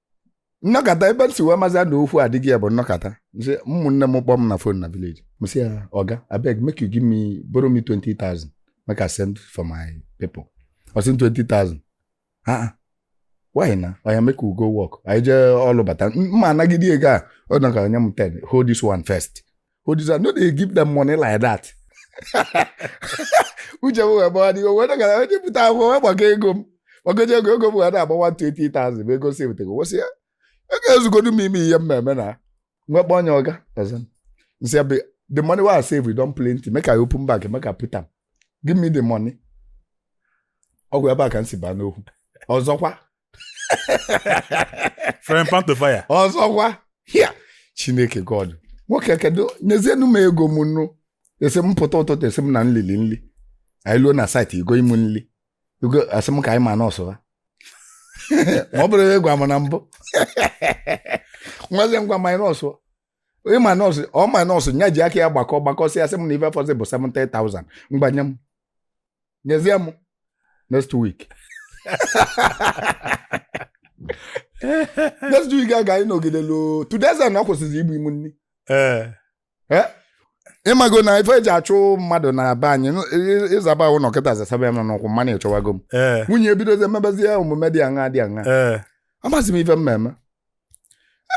Speaker 1: nnọkata ebe m si wee mazi na okwu adịgo ya bụ nnọkata nsị ụmụnne m kpọọ m na phone na village m sị ya oga abeg make you give me borrow me 20,000 make I send for my people ọ sị 20,000 ha why na oya make we go work anyị jee ọlụ bata mụ anagide ego a ọ dọka nye m 10 hold this one first hold this one no dey give them money like that. uche m wee gbawa m wee nọkata nwepụta akwụkwọ wee gbakọọ ego m gbakọcha ego ego m wee na-agba 120,000 bụ ego m savetego wee sị ya ego ezugodu m ime ihe mmemme na m wee kpọ onye oga ọzọ nsị ya the money wey i save e don plenty make i open bank make i put am give me the money ọ bụ ebe a ka m si baa n'okwu ọzọkwa
Speaker 2: From pan to fire. ọzọkwa
Speaker 1: hia chineke god nwoke kedu nyezienu m ego m nu esi m pụta ụtụtụ esi m na m lili nli anyị luo na site igoli m nli igo asị m ka anyị minus ha ma ọ bụrụ a gwa m na mbụ nwazi ngwa minus ị minus ọ minus nya ji aka ya gbakọ gbakọsịa sị m na ife fọzị bụ 70,000 ngwa nye m nyezie m next week next week ka anyị nọgide luo two days na ọ kwụsịzi igoli mụ nri ee Eh? ịmago na ife eji achụ mmadụ na be anyị n- ị- ị zaba ụnọ kịta zasaba ya m n'ụkwụ m ma na ị chụwago m ee nwunye ebidozi emebezie omume dị aṅa dị aṅa ee amazi m ife m ma-eme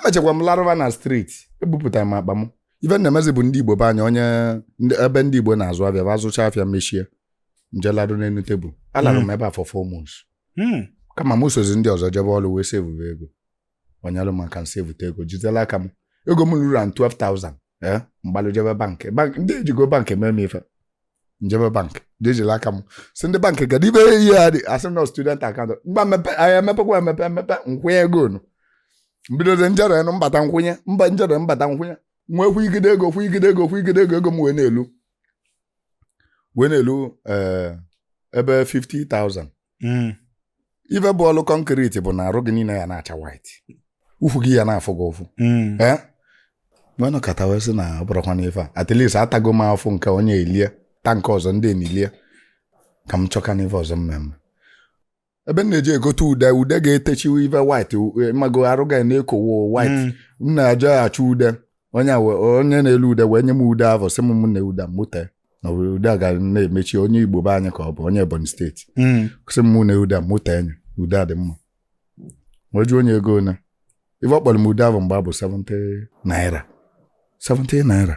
Speaker 1: emechakwa m larụba na street ebupụtara m akpa m ife na-emezi bụ ndị igbo be anyị onye ndị- ebe ndị igbo na-azụ afịa ba zụcha afịa mechie m je larụ n'elu table alarụ m ebe a for four months Hmm. kama m sozi ndị ọzọ jebe ọrụ wee sevube ego ọ nyelụ m aka m sevute ego jide l'aka m ego m ruru an 12,000 eh, m gbalụ jebe bank Bank- ndị ejigo bank eme m ife m jebe bank je jiri aka m sị ndị bank kedu ebe ihe a dị asị m na student account ngwa mepe anyị emepekwa emepe emepe m kwụnye ego nu m bidozie m jere nụ m bata m kwụnye m ba m jere m bata m kwụnye m wee kwụgide ego kwụgide ego kwụgide ego ego m wee na-elu wee na-elu eh, ebe 50,000 hmm. ife bụ ọlụ concrete bụ na arụ gị niile ya na-acha white ukwu gị ya na-afụ gị ụfụ hmm. eh? m wee nọkata wee sị na ọ bụrụkwa n'ife a at least atago m afụfụ nke onye elie ta nke ọzọ ndị emilie ka m chọkanụ ife ọzọ m ma-eme ebe m na-eje egote ude ude ga-etechiwe ife white ịmago arụ ga na-ekowo white hmm. m na-eje achọ ude onye onye na-ele ude wee nye m ude ahụ sị m m na ude mụ tee na ude a ga na-emechi onye igbo be anyị ka ọ bụ onye ebonyi state hmm. sị m na ude mụ tee enyi ude a dị mma wee jụọ onye ego na ife ọ kpọrọ m ude ahụ mgbe a bụ 70 naira 70 naira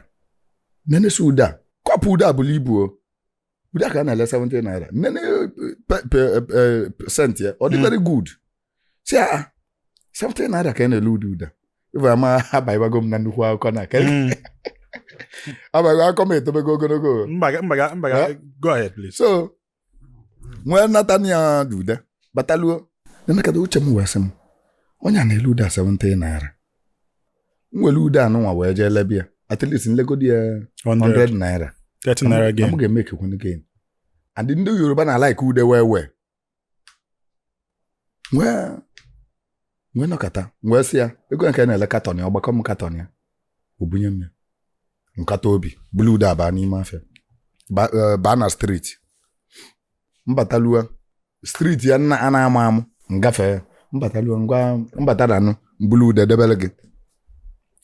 Speaker 1: nenesi ude a cup ude a bulu ibu ọ ude a ka a na-ele 70 naira nene e, e, e, scent ya ọ dị hmm. very good si a ah, 70 naira ka a na-ele ude ude a ife ama abaibago m na nnukwu akụkọ na ka Mm. abaigo akụkọ m etobego ogologo Mba, ga- mba, ga- mba, ga- Eh?
Speaker 2: go ahead, please. so
Speaker 1: m wee nata nụ ya ude bata luo nenekata uche m wee sị m onye a na-ele ude a 70 naira m were ude anụnwa wee jee lebe ya at least m legodi ya 100, 100 naira 30 naira gain. m
Speaker 2: ga-emekekwe gain
Speaker 1: and ndị yoruba na like ude wee wee wee nọkata wee sị ya ego nke na-ele katọn ya ọ gbakọọ m katọn ya o bunye m ya m kata obi bulu ude abaa n'ime afịa eh, baa na striti m batalua striti a nna a na-ama amụ ngafe ya m batalua ngwa m bataranụ m bulu ude debere gị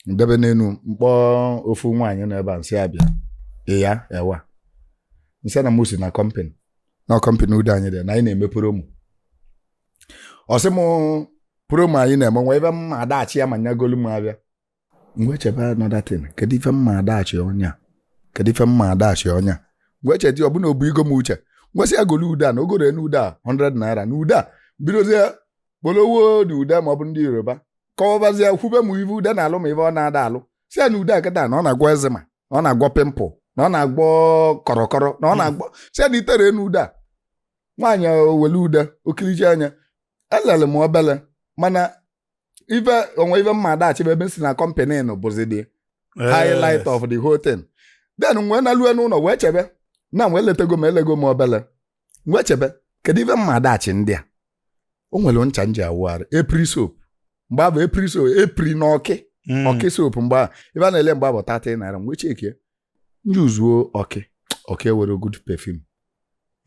Speaker 1: m debe n'enu m kpọọ ofu nwaanyị nọ ebe a m sị ya bịa iya ẹ wa m sị ya na mụ si na kọmpani na kọmpani ude anyị dị na anyị na-eme promo ọ sị m promo anyị na-eme nwa ive m ma-adashị ya ma nya golu m abịa m wee chebe another thing kedu ife m ma-adashị onye a kedu ife m ma-adashị onye a m wee chedi ọ bụ na obu igo m uche m wee sị ya golu ude a na ọ goro enu ude a 100 naira na ude a bidozie kpolowo dị ude ma ọ bụ ndị Yoruba kọwabazie kwube m ive ude na-alụ ma ive ọ na-ada alụ sị ya na ude a kịta na ọ na-agwọ eczema na ọ na-agwọ pịmpụl na ọ na-agwọ kọrọkọrọ na ọ na-agwọ sị ya na i tere enu ude a nwaanyị o wele ude okiriji anya elele m obele mana ife o nwe ife m ma-adashị va ebe m si na kọmpanị nụ bụzi the highlight of the whole thing then m wee nalue n'ụnọ wee chebe na m wee letego m elego m obele m wee chebe kedu ife m ma-adashị ndị a o nwere ncha m ji awụ arụ epri soap mgbe a bụ epri soap epri na ọkị Mm. ọkị soap mgbe ahụ ife a na-ele mgbe a bụ 30 naira m wee chekie m ji uzuo ọkị ọkị nwere good perfume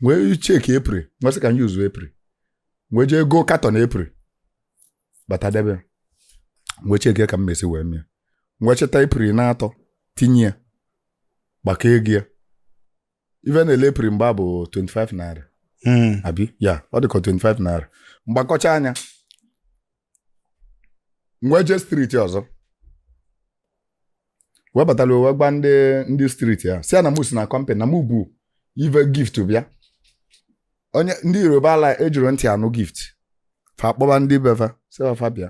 Speaker 1: wee chekie epri m wee sị ka m ji uzuo epri wee jee goo katọn epri bata debe wee chekie ka m mesi wee mie wee chịta epri n'atọ tinye ya gbakọ ego ya ife a na-ele epri mgbe a bụ 25 naira Mm. abi ya ọ dịka 25 naira m gbakọchaa nya m wee jee striti ọzọ wee batara wee gwa ndị ndị striti a sị ya na mụ si na kọmpanị na mụ bu ive gift bịa onye ndị Yoruba ala ejirọ ntị anụ gift fa kpọba ndị be fa sị fa bịa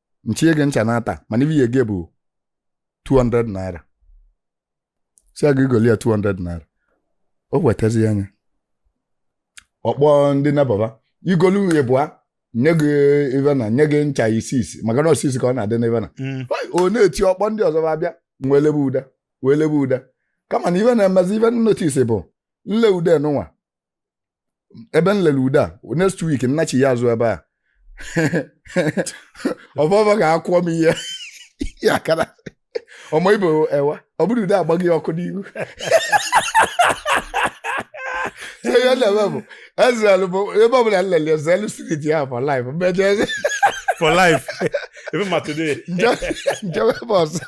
Speaker 1: m chịnye gị ncha n'atọ mana ive ị ya-ego bụ 200 naira sị ya gị golu ya 200 naira o wetazi ya anya ọ kpọọ ndị neighbour va i golu ịbụa nye gị ive na nye gị ncha isisi maka na isisi ka ọ na-adị n'ive na Mm. o na-eti ọ kpọọ ndị ọzọ va bịa wee lebe ude wee lebe ude kama na ive na-emezi ive m notis bụ m lee ude nụnwa ebe m lere ude a next week m nachịa azụ ebe a ọ bụ va ga-akpọ m ihe ya akara ọmọ Ibo ẹ wa ọ bụrụ ude agbaghị ya ọkụ n'ihu So ihe m na-eme bụ ezelu bụ ebe ọbụla m lere ezelu street ya for life m ma ejezi for life
Speaker 2: even ma today nje- m
Speaker 1: jewe ebe ọzọ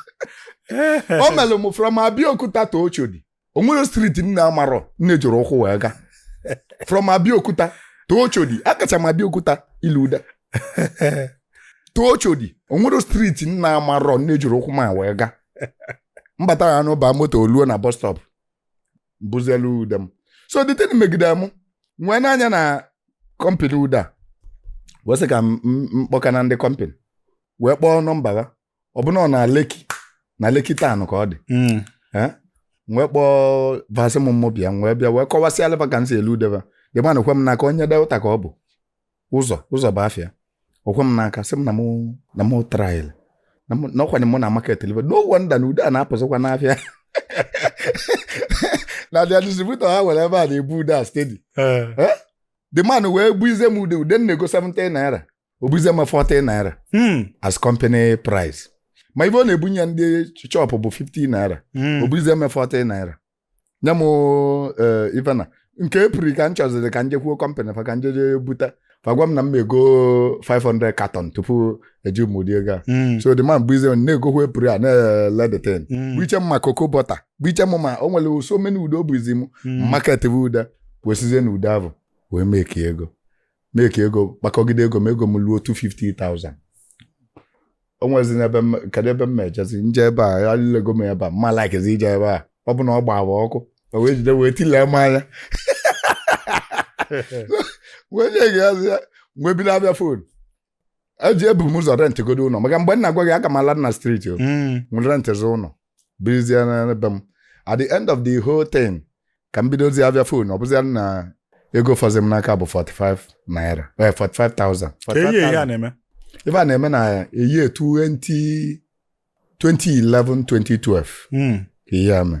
Speaker 1: o mere m from Abeokuta to Oshodi o nwerọ street m na-amarọ m jiri ụkwụ wee gaa from Abeokuta to Oshodi akacha m Abeokuta ilu uda to Oshodi o nwerọ street m na-amarọ m jiri ụkwụ m wee gaa mbata ya n'ụba moto o luo na bus stop buzielu ude m so the thing megide m wee nee anya na company ude a wee sị ka m m- m kpọkene ndị company wee kpọọ nọmba ha ọ bụ na ọ na Lekki na Lekki town ka ọ dị mm. eh? wee kpọọ va sị m mụ bịa wee bịa wee kọwasịala va ka m si ele ude va the man ekwe m n'aka onye Delta ka ọ bụ Ụzọ Ụzọ bụ afa ya o kwe m n'aka sị m na mụ na mụ try na ọkwanye mụ na market live no wonder na ude a na-apụzikwa n'afịa na the distributor ha nwere ebe a na-ebu ude a steady eh. Eh? the man wee buizie m ude ude m na-ego 70 naira o buizie m 40 naira Hmm. as company price ma ive ọ na-ebunye ndị shop bụ 50 naira Hmm. o buizie m 40 naira nye m eh, ife na nke Apple ka m chọziri ka m jekwuo company fa ka m jeje buta fa gwa m na m ego 500 carton tupu eji m ụdị ego a Hmm. so the man buizie m na-egokwa Apple a na-ele the thing Hmm. buiche m ma cocoa butter buiche m ma o nwere so many ude o buizi m Hmm. market bụ ude wesizie na ude ahụ wee make ego make ego kpakọgide ego m ego m luo 250,000 o nwezi n'ebe m kedu ebe m ejezi m je ebe a e lili ego m ebe a m ama likezi ije ebe a ọ bụ na ọ gbaba ọkụ o wee jide wee tilee m anya wee nye gị azụ ya wee bido avịa phone eji ebu m ụzọ rent godu ụnọ maka mgbe m na-agwa gị aka m ala na street o Mm. m rentzi ụnọ birizie na be m at the end of the whole thing ka m bidozie avịa phone ọ bụzia na ego fọzi m n'aka bụ 45 naira eh, 45,000 Kee year ife a 45,000. na-eme ife a na-eme na year 20 2011 2012 Mm. ka ihe a mee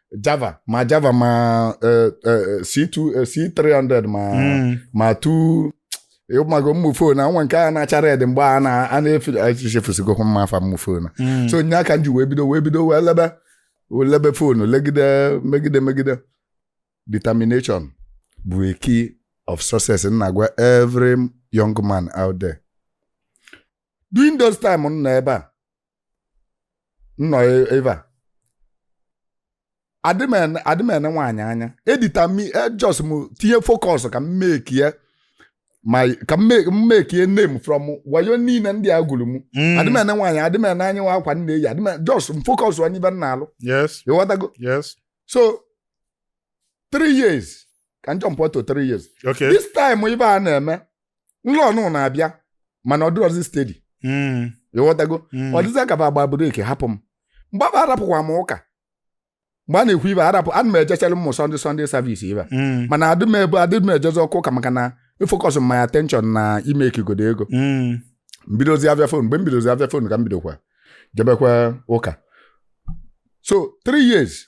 Speaker 1: java ma java ma eh, eh, c2 eh, c300 ma Mm. ma two ị mago ụmụ phone a nwa nke a na-acha red mgbe a na- a na-efe echefusigokwa m ma afa ụmụ phone a Mm. so nya ka m ji wee bido wee bido wee lebe wee lebe phone legide megide megide determination bụ a key of success m na-agwa every young man out there during those time m nọ ebe a m nọ e- ebe a adị m ene- adị m ene nwaanyị anya edita m just m tinye focus ka m make ya ma ka m make- m make ya name from wayo niile ndị a gwulu m Mm. adị m ene nwaanyị adị m ene anya ma akwa m na-eyi adị m just m focus on ive m na-alụ yes ị
Speaker 2: ghọtago yes
Speaker 1: so three years ka m jump to three years Okay. this time
Speaker 2: ife
Speaker 1: a na-eme nlọ nụ na-abịa mana ọ dịrọzi steady Mm, ịghọtago mm. ọ dịzị ka agba break hapụ m mgbe afụ arapụkwa m ụka mgbe a na-ekwu ife arapụ ana m ejechere m Sunday Sunday service ibe Mm, mana adị m ebe adị m ejezi ọkụ ụka maka na ifocus my attention na ime ekigodo ego mm. m bidozi afịa phone mgbe m bidozi afịa phone ka m bidokwa jebekwa ụka so three years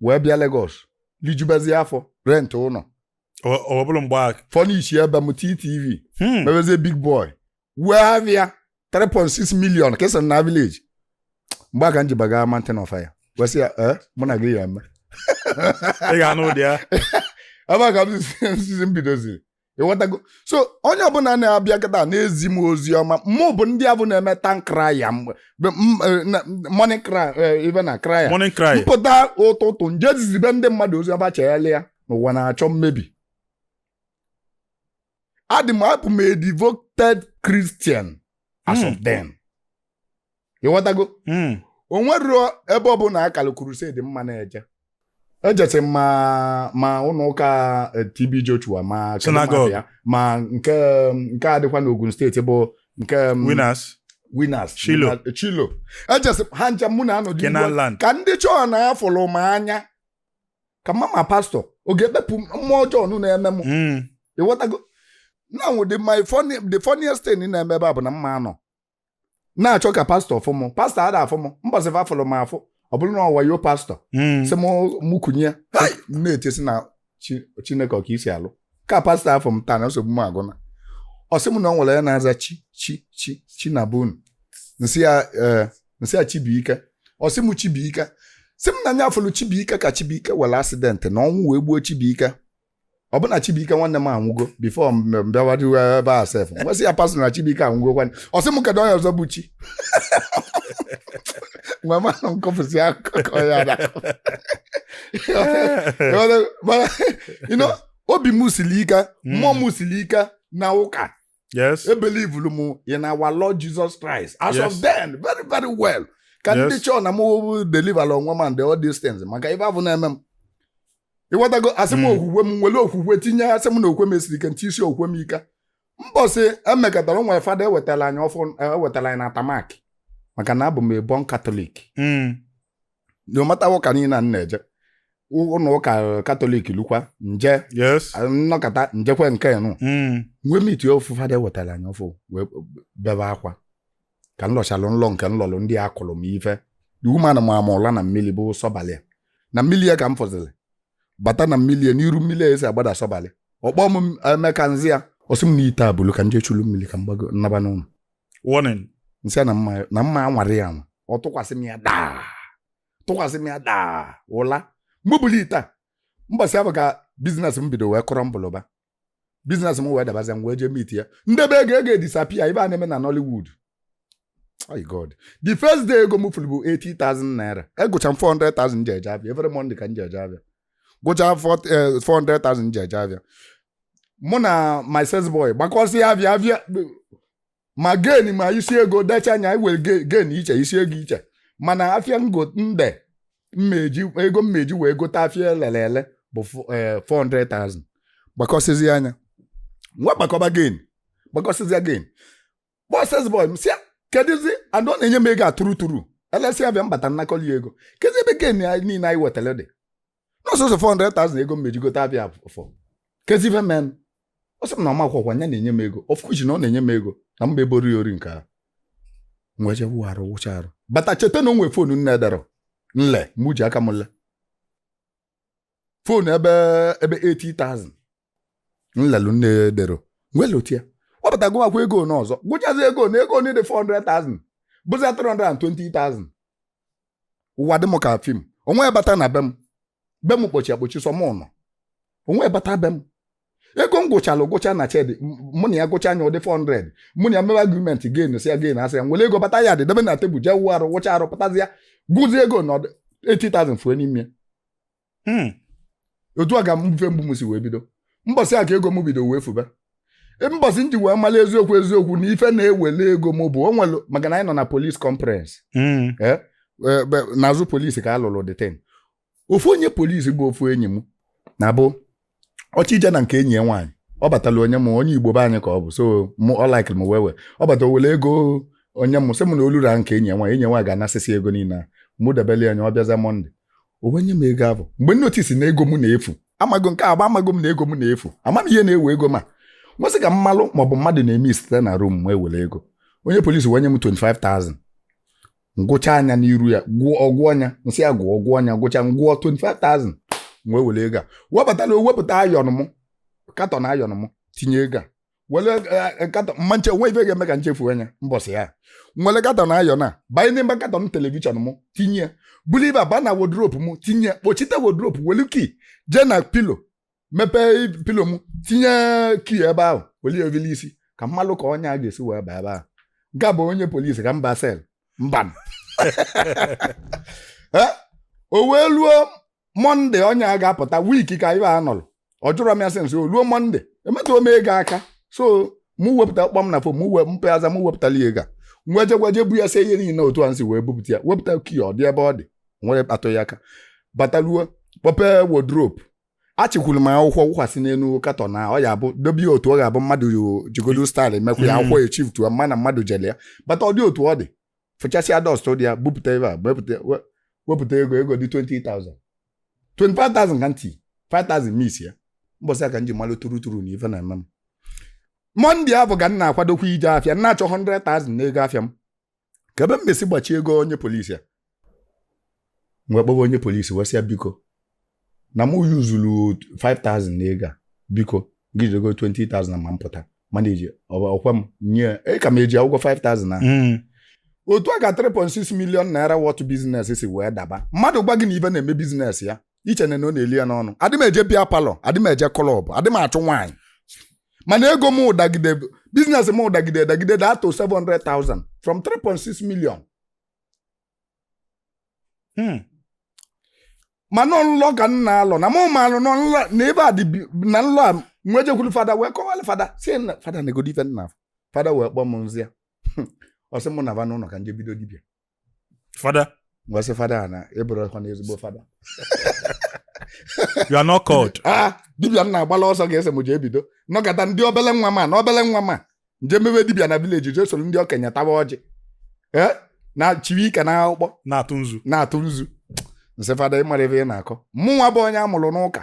Speaker 1: wee bịa Lagos lijubezie afọ rent ụlọ ọ
Speaker 2: bụrụ mgbe a furnishie be m
Speaker 1: TTV hmm. mebezie big boy wee afịa 3.6 million kesa na village mgbe a ka m ji baga Mountain of Fire wee sị ya eh, mụ na gị ya eme ị
Speaker 2: ga-anụ ụdị ya ebe a ka m
Speaker 1: sizi m bidoziri ịghọtago so onye ọbụla na-abịa kịta na-ezi m ozi ọma mụ bụ ndị afụ na-eme town crier morning evening cry Morning cry. m pụta ụtụtụ m je zizibe ndị mmadụ ozi ọma chegharịa na ụwa na-achọ imebi adị m abụ m a devoted Christian as of Hmm. then ịghọtago Mm. o nwerọ ebe ọ bụla a kara crusade m ma na-eje ejesi m ma ụlọ ụka eh, TB Joshua ma kedu Synagogue. mmadụ ya, ma
Speaker 2: nke
Speaker 1: nke a dịkwa n'Ogun State bụ nke mm, Winners Winners Shiloh. Winner- Shiloh ejesi ha ncha mụ na anọdụ Canaan ugbu a. Land ka ndị chọọ na afụrụ m anya ka m ma ma pastor ọ ga-ekpepụ mmụọ ọjọọ nụ na-eme m Mm. ịghọtago now the my funny the funniest thing na-eme ebe a bụ na mma anọ na-achọ ka pastor fụ m pastor ada afụ m mbọsị fa fụrụ m afụ ọ bụrụ na ọ wayo pastor Mm. sị m mụ kunie Hai! m na-etesi na Chi- Chineke ọ ka i si alụ ka pastor afụ m taa na nsogbu m agwụna ọ sị m na o nwere onye na-aza chi chi chi chi na be unu m sị ya ee, m sị ya Chibuike ọ sị m Chibuike sị m na nya afụlụ Chibuike ka Chibuike nwere accident na ọnwụ wee gbuo chibuike ọ bụ na Chibuike nwanne m anwụgo before m bịawadịwe ebe a sef m wee sị ya pastor na Chibuike anwụgo kwanne ọ sị m kedu onye ọzọ bụ chi nwa manụ m kọpụsị akụkọ ya na mana you know, obi m siri ike mmụọ m siri ike na ụka yes ebelievelu m in our Lord Jesus Christ as of Yes. then very very well ka ndị Yes. chọọ na m deliver onwe m and all these things maka ife afụ na-eme m ịghọtago asị m okwukwe m nwere okwukwe tinye asị m na okwe m esiri ike nti isi okwe m ike mbọsị e mekatara nwee fada ewetara anyị ọfụụ ewetara anyị na tamak maka na abụ m a born Catholic no matter ụka niile a m na-eje ụlọ ụka Catholic lukwa m je yes nnọkọta m jekwa nke nụ Mm. m wee meet ofu fada ewetara anyị ọfụụ wee bebe akwa ka m lọchalụ nlọ nke m lọlụ ndị a kụrụ m ife the woman maa m ụla na mmiri bụ sọbalị ya. na mmiri ya ka m fọziri bata na mmiri ya n'iru mmiri ya esi agbada sọbalị ọ kpọ m Emeka nza ya ọ sị m na ite a bulu ka m jee chulu mmiri ka m gbago nnaba n'ụlọ
Speaker 2: warning nsị ya na
Speaker 1: mma na mma anwara ya anwa ọ tụkwasị m ya daa tụkwasị m ya daa ụla mgbe bulu ite a mbọsị a bụ ka business m bido wee kọrọ mbụlụba business m wee dabazịa m wee jee meet ya ndebe ego ego edisappear ife a na-eme na Nollywood my God the first day ego m fulu bụ 80,000 naira agụcha m 400,000 nji eje afịa every Monday ka nje eje afịa gụcha 400,000 nji eje afịa mụ na my sales boy gbakọsịa afịa afịa ma gain ma isi ego decha nya were gain iche isi ego iche mana afịa ngo nde mmeji ego m ji wee gote afịa elelu ele bụ 400,000 eh, gbakọsịzịa nya nwee gbakọba gain gbakọsịzịa gain kpọ sales boy m sịa kedụzi and ọ na-enye m ego atụrụ tụrụ elesịa afịa m bata nnakọlụ ego kezi ebe gain niile anyị wetara dị na ọ sọọsọ 400,000 ego m ji gote afịa afụ kezi ife mee nụ ọ sị m na ọ makwa ọkwa ya na-enye m ego of which na ọ na-enye m ego na mba eboro ya ori nke ahụ nwee je wụ arụ wụcha arụ bata cheta na o nwee phone nna-ederọ nle mụ ji aka m le phone ebe ebe 80,000 nlelu nna-ederọ nwee lotịa wee pụta gụwakwa ego nwa ọzọ gụchazịa ego nwa ego nwa dị 400,000 bụzi 320,000 ụwa dị m ka film onye bata na be m be m kpọchi akpọchi sọ mụ nọ onye bata be m ego m gụchalụ gụcha na shed mụ na ya gụcha nya ọ dị 400 mụ na ya mewe agreement gain si ya gain asị ya nwere ego bata ya dị debe na table jee wụ arụ wụcha arụ pụtazịa gụzie ego na 80,000 fue n'ime ya hmm. otu a ka ife mgbu m si wee bido mbọsị a ka ego m bido wee fube e, mbọsị m ji wee mara eziokwu eziokwu na ife na-ewele ego m bụ onwere maka na anyị nọ na police conference hmm. e, e, n'azụ police ka a lụlụ the thing ofu onye police bụ ofu enyi m na-abụ ọ chọ ije na nke enyi ya nwaanyị ọ batala o nye m onye Igbo be anyị ka ọ bụ so mụ ọ likeli m well well ọ bata o were ego nye m sị m na o lue na nke enyi ya nwaanyị enyi ya nwaanyị ga-anasịsị ego niile a mụ debelụ ya nya ọ bịaza Monday o wee nye m ego ahụ mgbe m notice na ego m na-efu amago nke agba amago m na ego m na-efu ama m ihe na-ewe ego m nwee sị ka m malụ ma ọ bụ mmadụ na-eme isite na room m ewere ego onye police wee nye m 25,000 ngụcha nya n'iru ya gụọ ọ gụọ nya nsị ya gụọ ọ gụọ nya gụcha ngụọ 25,000 wee were ego a wee batala wepụta iron m carton iron m tinye ego a were eh, eh, carton mma nche o nwe ife ga-eme ka nchefu nya mbọsị a nwere carton iron a banye n'ime carton television m tinye ya buru ife a ba na wardrobe m tinye ya kpọchite wardrobe welu key jee na pillow mepee pilo m tinye kii ebe ahụ weli e vili isi ka m malụ ka onye a ga-esi wee baa ebe ahụ nke a bụ onye polisi ka m ba sel mba eh? o wee luo mọnde onye a ga-apụta wiiki ka ibe a nọrọ ọ jụrụ m ya sị nsị o luo mọnde emetụọ m ego aka so mụ wepụta kpọ m na fon mụ wee mpeaza mụ wepụtala ya ego a nwa jegwaje bu ya se ihe niile otu a nsi wee bupụta ya wepụta kii ọ dị ebe ọ dị nwere kpatụ ya aka bataluo kpọpee wodropu achịkwuru m akwụkwọ wụkwasị n'elu katọn na ọ ya bụ dobe ya otu ọ ga-abụ mmadụ jigodo staịl emekwa ya akwụkwọ echifutuwa ma na mmadụ jele ya bata ọ dị otu ọ dị fụchasịa dọst dị ya bupụta ebe a wepụta we- wepụta ego ego dị 20,000 25,000 kaụntị 5,000 mis ya mbọsị a ka m ji malụ turu turu na ife na-eme m mọnde avụ ka m na-akwadokwa ije afịa m na-achọ 100,000 n'ego afịa m ka ebe m mesi gbachie ego onye polisi a nwee kpọwa onye polisi wee sị ya biko na mụ yuzuru 5000 na ego a biko gị jidego 20000 ma m pụta mana eji ọkwa m nye e ka m eji akwụ ụgwọ 5000 ahụ Mm. otu a ka 3.6 million naira worth biznes si wee daba mmadụ gwa gị na ife na-eme biznes ya i chee na na ọ na-eli ya n'ọnụ adị m eje bịa palọ adị m eje klọb adị m achụ nwaanyị mana ego mụ dagide biznes mụ dagide dagide da to 700,000 from 3.6 million Hmm. mana ọ nlọ ka m na-alọ na mụ malụ na ọ nlọ na ebe a dị bi- na nlọ a nwee jekwuru fada wee kọwalụ fada si na fada neegodi ife nna fada wee kpọọ m nzi ya ọ sị mụ nava n'ụlọ ka nje bido dibịa
Speaker 2: fada ngwasị
Speaker 1: fada a na ị bụrọkwana ezigbo
Speaker 2: fada you are not called a dibịa m na-agbala
Speaker 1: ọsọ ka ị sị m jee bido nọkata ndị obele nwa ma na obele nwa ma nje mebe dibịa na vileji je soro ndị okenye tawa ọjị ee na chiri ike na akpụkpọ na-atụ nzu na-atụ nzu nsị fada ị mara ive ị na-akọ mụnwa bụ onye a mụrụ n'ụka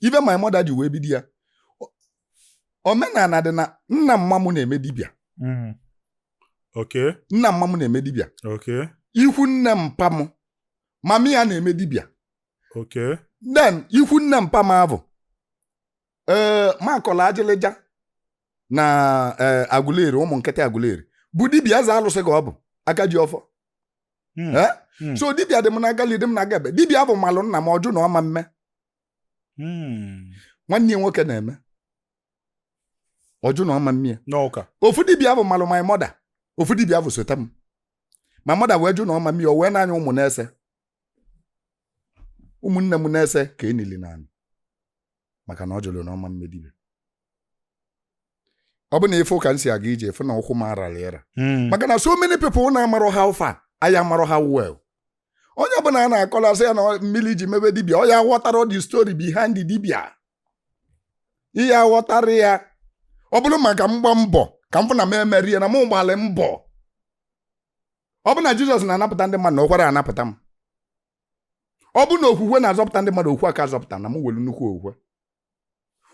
Speaker 1: even my mother ji wee bido ya omenala dị na nna mma m na-eme dibịa Mm.
Speaker 2: Okay. nna mma m na-eme dibịa
Speaker 1: Okay. ikwu
Speaker 2: nne
Speaker 1: mpa m mama ya na-eme dibịa Okay.
Speaker 2: then ikwu
Speaker 1: nne mpa m avụ ee makọla ajịlịja na ee Aguleri ụmụ nkịtị Aguleri bụ dibịa eze alụsị ka ọ bụ aka ji ọfọ Mm. Eh? Mm. so dibịa dị m n'aka nli dị m n'aka ekpe dibịa avụ malụ nna m ọ jụ na ọ ma mme hmm. nwanne ya nwoke na-eme ọ jụ na ọ ma mme ya n'ụka ofu dibịa
Speaker 2: avụ malụ
Speaker 1: my mother ofu dibịa avụ sota m my mother wee jụ na ọ ma mme ya o wee na-anya ụmụ n'ise ụmụnne m n'ise ka e nili n'anị maka na ọ jụrụ na ọ ma mme dibịa ọ bụ na ife ụka m si aga ije efu na ụkwụ m arala ịra Mm. maka na so many people na-amarọ how far anyị amarọ ha well onye ọbụla a na-akọla sị ya na ọ- mmiri ji mebe dibia ọ ya ghọtara the story behind the dibia ihe aghọtara ya ọ bụrụ maka mgba mbọ ka m fụ na m emerie na mụ gbalị mbọ ọ bụ na Jizọs na-anapụta ndị mmadụ na ọ kara anapụta m ọ bụ na okwukwe na-azọpụta ndị mmadụ okwukwe aka azọpụta na m nwelu nnukwu okwukwe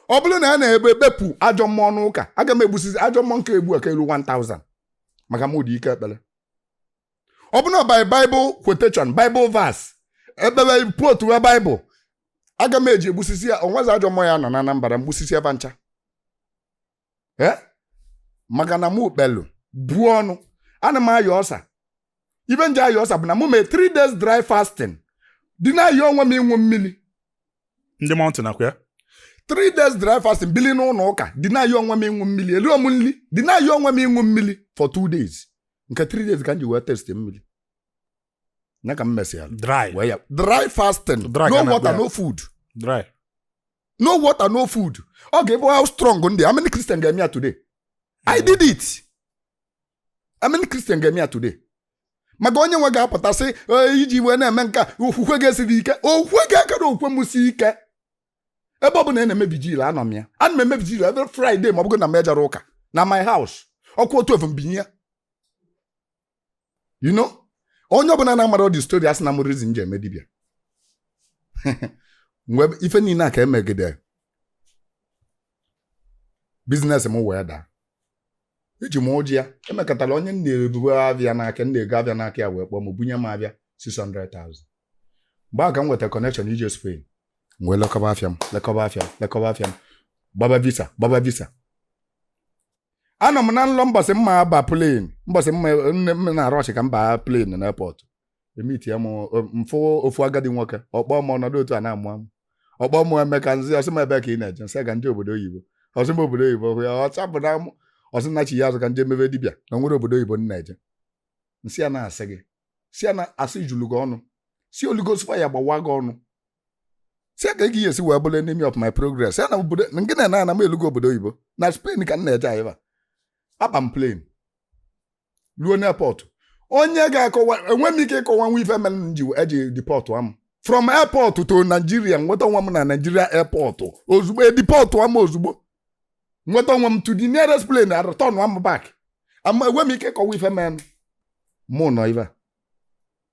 Speaker 1: ọ bụrụ na a na-ekpe ekpepụ ajọ mmụọ n'ụka aga m egbusisi ajọ mmụọ nke egbu aka elu 1000 maka m ụdị ike ekpere ọ bụrụ na by Bible quotation Bible verse ekpere potu we Bible aga m eji egbusisi ya o nwezi ajọ mmụọ ya-anọ na Anambra m gbusisi fa ncha eh? maka na mụ kpelu buo ọnụ ana m aya ulcer ife m ji aya ulcer bụ na mụ mee 3 days dry fasting deny onwe m ịṅụ mmiri
Speaker 2: ndị mountain akwa ya 3
Speaker 1: days dry fasting bili n'ụlọ ụka deny onwe m ịṅụ mmiri erirọ m nri deny onwe m ịṅụ mmiri for 2 days nke 3 days ka m ji wee taste mmiri ya ka m mesịa dry wee ya dry fasting Dry no water no food
Speaker 2: dry
Speaker 1: no water no food ọ ga-ebe how strong m dị how many christian ga-eme ya today i did it how many christian ga-eme ya today maka onye nwe ga-apụta sị ife i ji wee na-eme nke a, okwukwe gị esirọ ike okwukwe gị akarọ okwukwe m sie ike ebe ọ bụla a na-eme vigil anọ m ya ana m eme vigil every friday ma ọ bụgo na m ejerọ ụka na my house ọ kụọ 12 m binye ya you know onye ọbụla na-amarọ the story asị na mụ reason m ji eme dibịa mgbe ife niile a ka emegide business m wee daa eji m ụjị ya e mekatara onye m na-ebubu afịa n'aka m na-ego afịa n'aka ya wee kpọọ m bunye m afịa 600,000 mgbe a ka m nweta connection ije Spain m wee lekọba afịa m lekọba afịa m lekọba afịa m gbaba visa gbaba visa anọ m na nlọ mbọsị m ya-aba plane mbọsị m na-arọ echi ka m baa plane na airport e meetia m m fụ ofu agadi nwoke ọ kpọọ m ọ nọdụ otu a na-amụ amụ ọ kpọọ m Emeka m za ọ sị m ebee ka ị na-eje m sị ya na obodo oyibo ọ sị m obodo oyibo hụ ya ọcha bụ na mụ ọ sị nachighaa azụ ka m je mebe dibịa na o nwerọ obodo oyibo m na-eje m sị ya na asị gị sị ya na asị julu gị ọnụ sị Holy Ghost fire gbawaa gị ọnụ sị kee ka ị ga-esi wee bụrụ enemy of my progress ya na obodo nke na na m elugo obodo oyibo na Spain ka m na-eje anyị aba m plane ruo n'airport onye ga-akọwa enwerọ m ike ịkọwanwu ife mere m ji eji deportụa m from airport to Nigeria nweta onwe m na Nigeria airport ozugbo e deportụa m ozugbo nweta onwe m to the nearest plane a return m back ama m enwe ike ịkọwa ife mere mụ nọ ife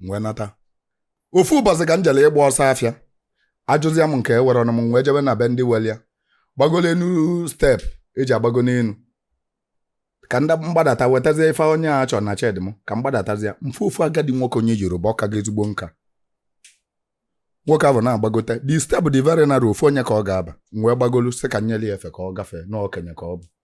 Speaker 1: m wee nata ofu ụbọchị ka m jere ịgba ọsọ afịa ajụzịa m nke enwerọ m m wee jebe na be ndị nwelu ya gbagolu enu step eji agbago n'enu ka ndị mgbadata wetazie ife onye a chọrọ na shed m ka m gbadatazie m fụ ofu agadi nwoke onye Yoruba ọ kago ezigbo nka nwoke ahụ na-agbagote the step dị very narrow ofu onye ka ọ ga-aba m wee gbagolu sị ka m nye ya efe ka ọ gafee na okenye ka ọ bụ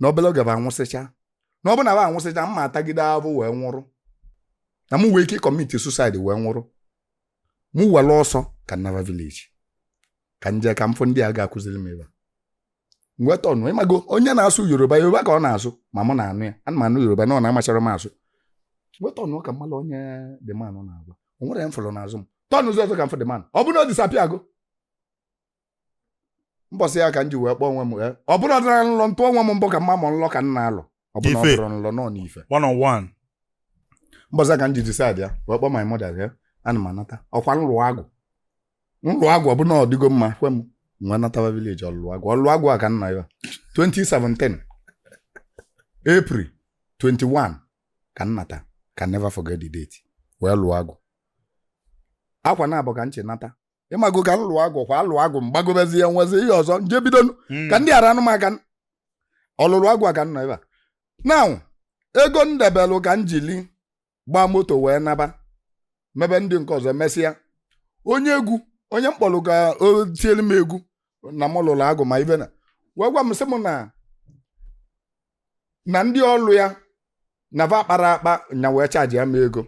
Speaker 1: na obere oge ba anwụsịcha na ọ bụ na ba anwụsịcha mma atagide ahụ wee nwụrụ na mụ nwee ike commit suicide wee nwụrụ mụ were ọsọ ka m naba village ka m jee ka m fụ ndị a ga-akụziri m ebe a m wee turnụọ ị mago onye na-asụ Yoruba Yoruba ka ọ na-asụ ma mụ na-anụ ya ana m anụ Yoruba mana amacharọ m asụ m wee turnụọ ka m malụ onye the man na-agwa o nwerọ onye m fụrụ n'azụ m turnụọ ụzọ ọzọ ka m fụ the man ọ bụ na ọ disappear go mbọsị ya ka m ji wee kpọọ onwe m wee ọ bụrụ ọ dịra nlọ m tụọ onwe m mbọ ka m ma ma ọ nlọ ka m na-alọ ọ bụrụ na ọ Ife. bụrọ nlọ na ọ n'ife one on one
Speaker 2: mbọsị
Speaker 1: ya ka m ji decide ya wee kpọọ my mother ya ana m anata ọ kwa m lụọ agwụ m lụọ agwụ ọ bụrụ na ọ dịgo mma kwe m nwa natawa village ọlụ agwụ ọlụ agwụ a ka nna ya 2017 April 21 ka m nata can never forget the date wee lụọ agwụ ọ kwa na agwụ ka nche nata ị mago ka m lụọ agwụ kwa alụ agwụ m gbagobezie nwezi ihe ọzọ m jee bido nụ. Mm. ka ndị ara anọ m aka n'ọlụlụ agwụ a ka m nọ ebe a now ego m debelụ ka m jili gbaa moto wee naba mebe ndị nke ọzọ mesịa onye egwu onye m kpọrọ ka o tielu m egwu na m lụrụ agwụ ma ibe na wee gwa m sị m na na ndị ọlụ ya na va akpara akpa nya wee chargeịa m ego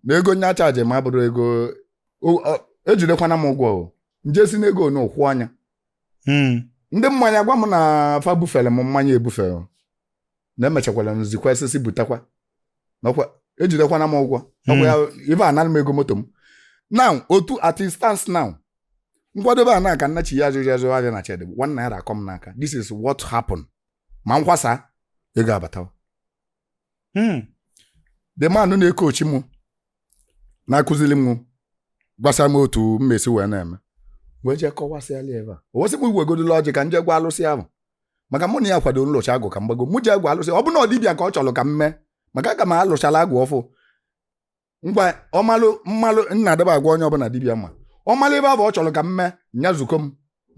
Speaker 1: na ego nya charge m abụrọ ego o- ọ- ejidekwana m ụgwọ o m jee si n'ego nụ kwụọ nya Mm. ndị mmanya gwa m na fa bufere m mmanya ebufere m. na emechakwara m zikwa ezi sị butakwa Nakwa- ejidekwana m ụgwọ Nakwa ya ibe anara m ego moto m now otu as it stands now m kwadobe ana ka m nachi ya azụrụ azụ ahịa na shed one naira akọ m n'aka this is what happened ma nkwasa ego abatawa hmm. the man na-ecoach m na-akụziri m gwasịa m otu m ma-esi wee na-eme wee jee kọwasịalụ ya ife a o wee sị m wegodulu ọjị ka m jee gwa alụsị ahụ maka mụ na ya kwado m lụchaa agwụ ka m gbago mụ jee gwa alụsị ọ bụ na ọ dibịa ka ọ chọrọ ka m mee maka aga m alụchala agwụ ọfụụ ngwa ọ malụ m malụ na adịba agwa onye ọbụna dibịa ma ọ malụ ebe abụ ọ chọrọ ka m mee nya zukọ m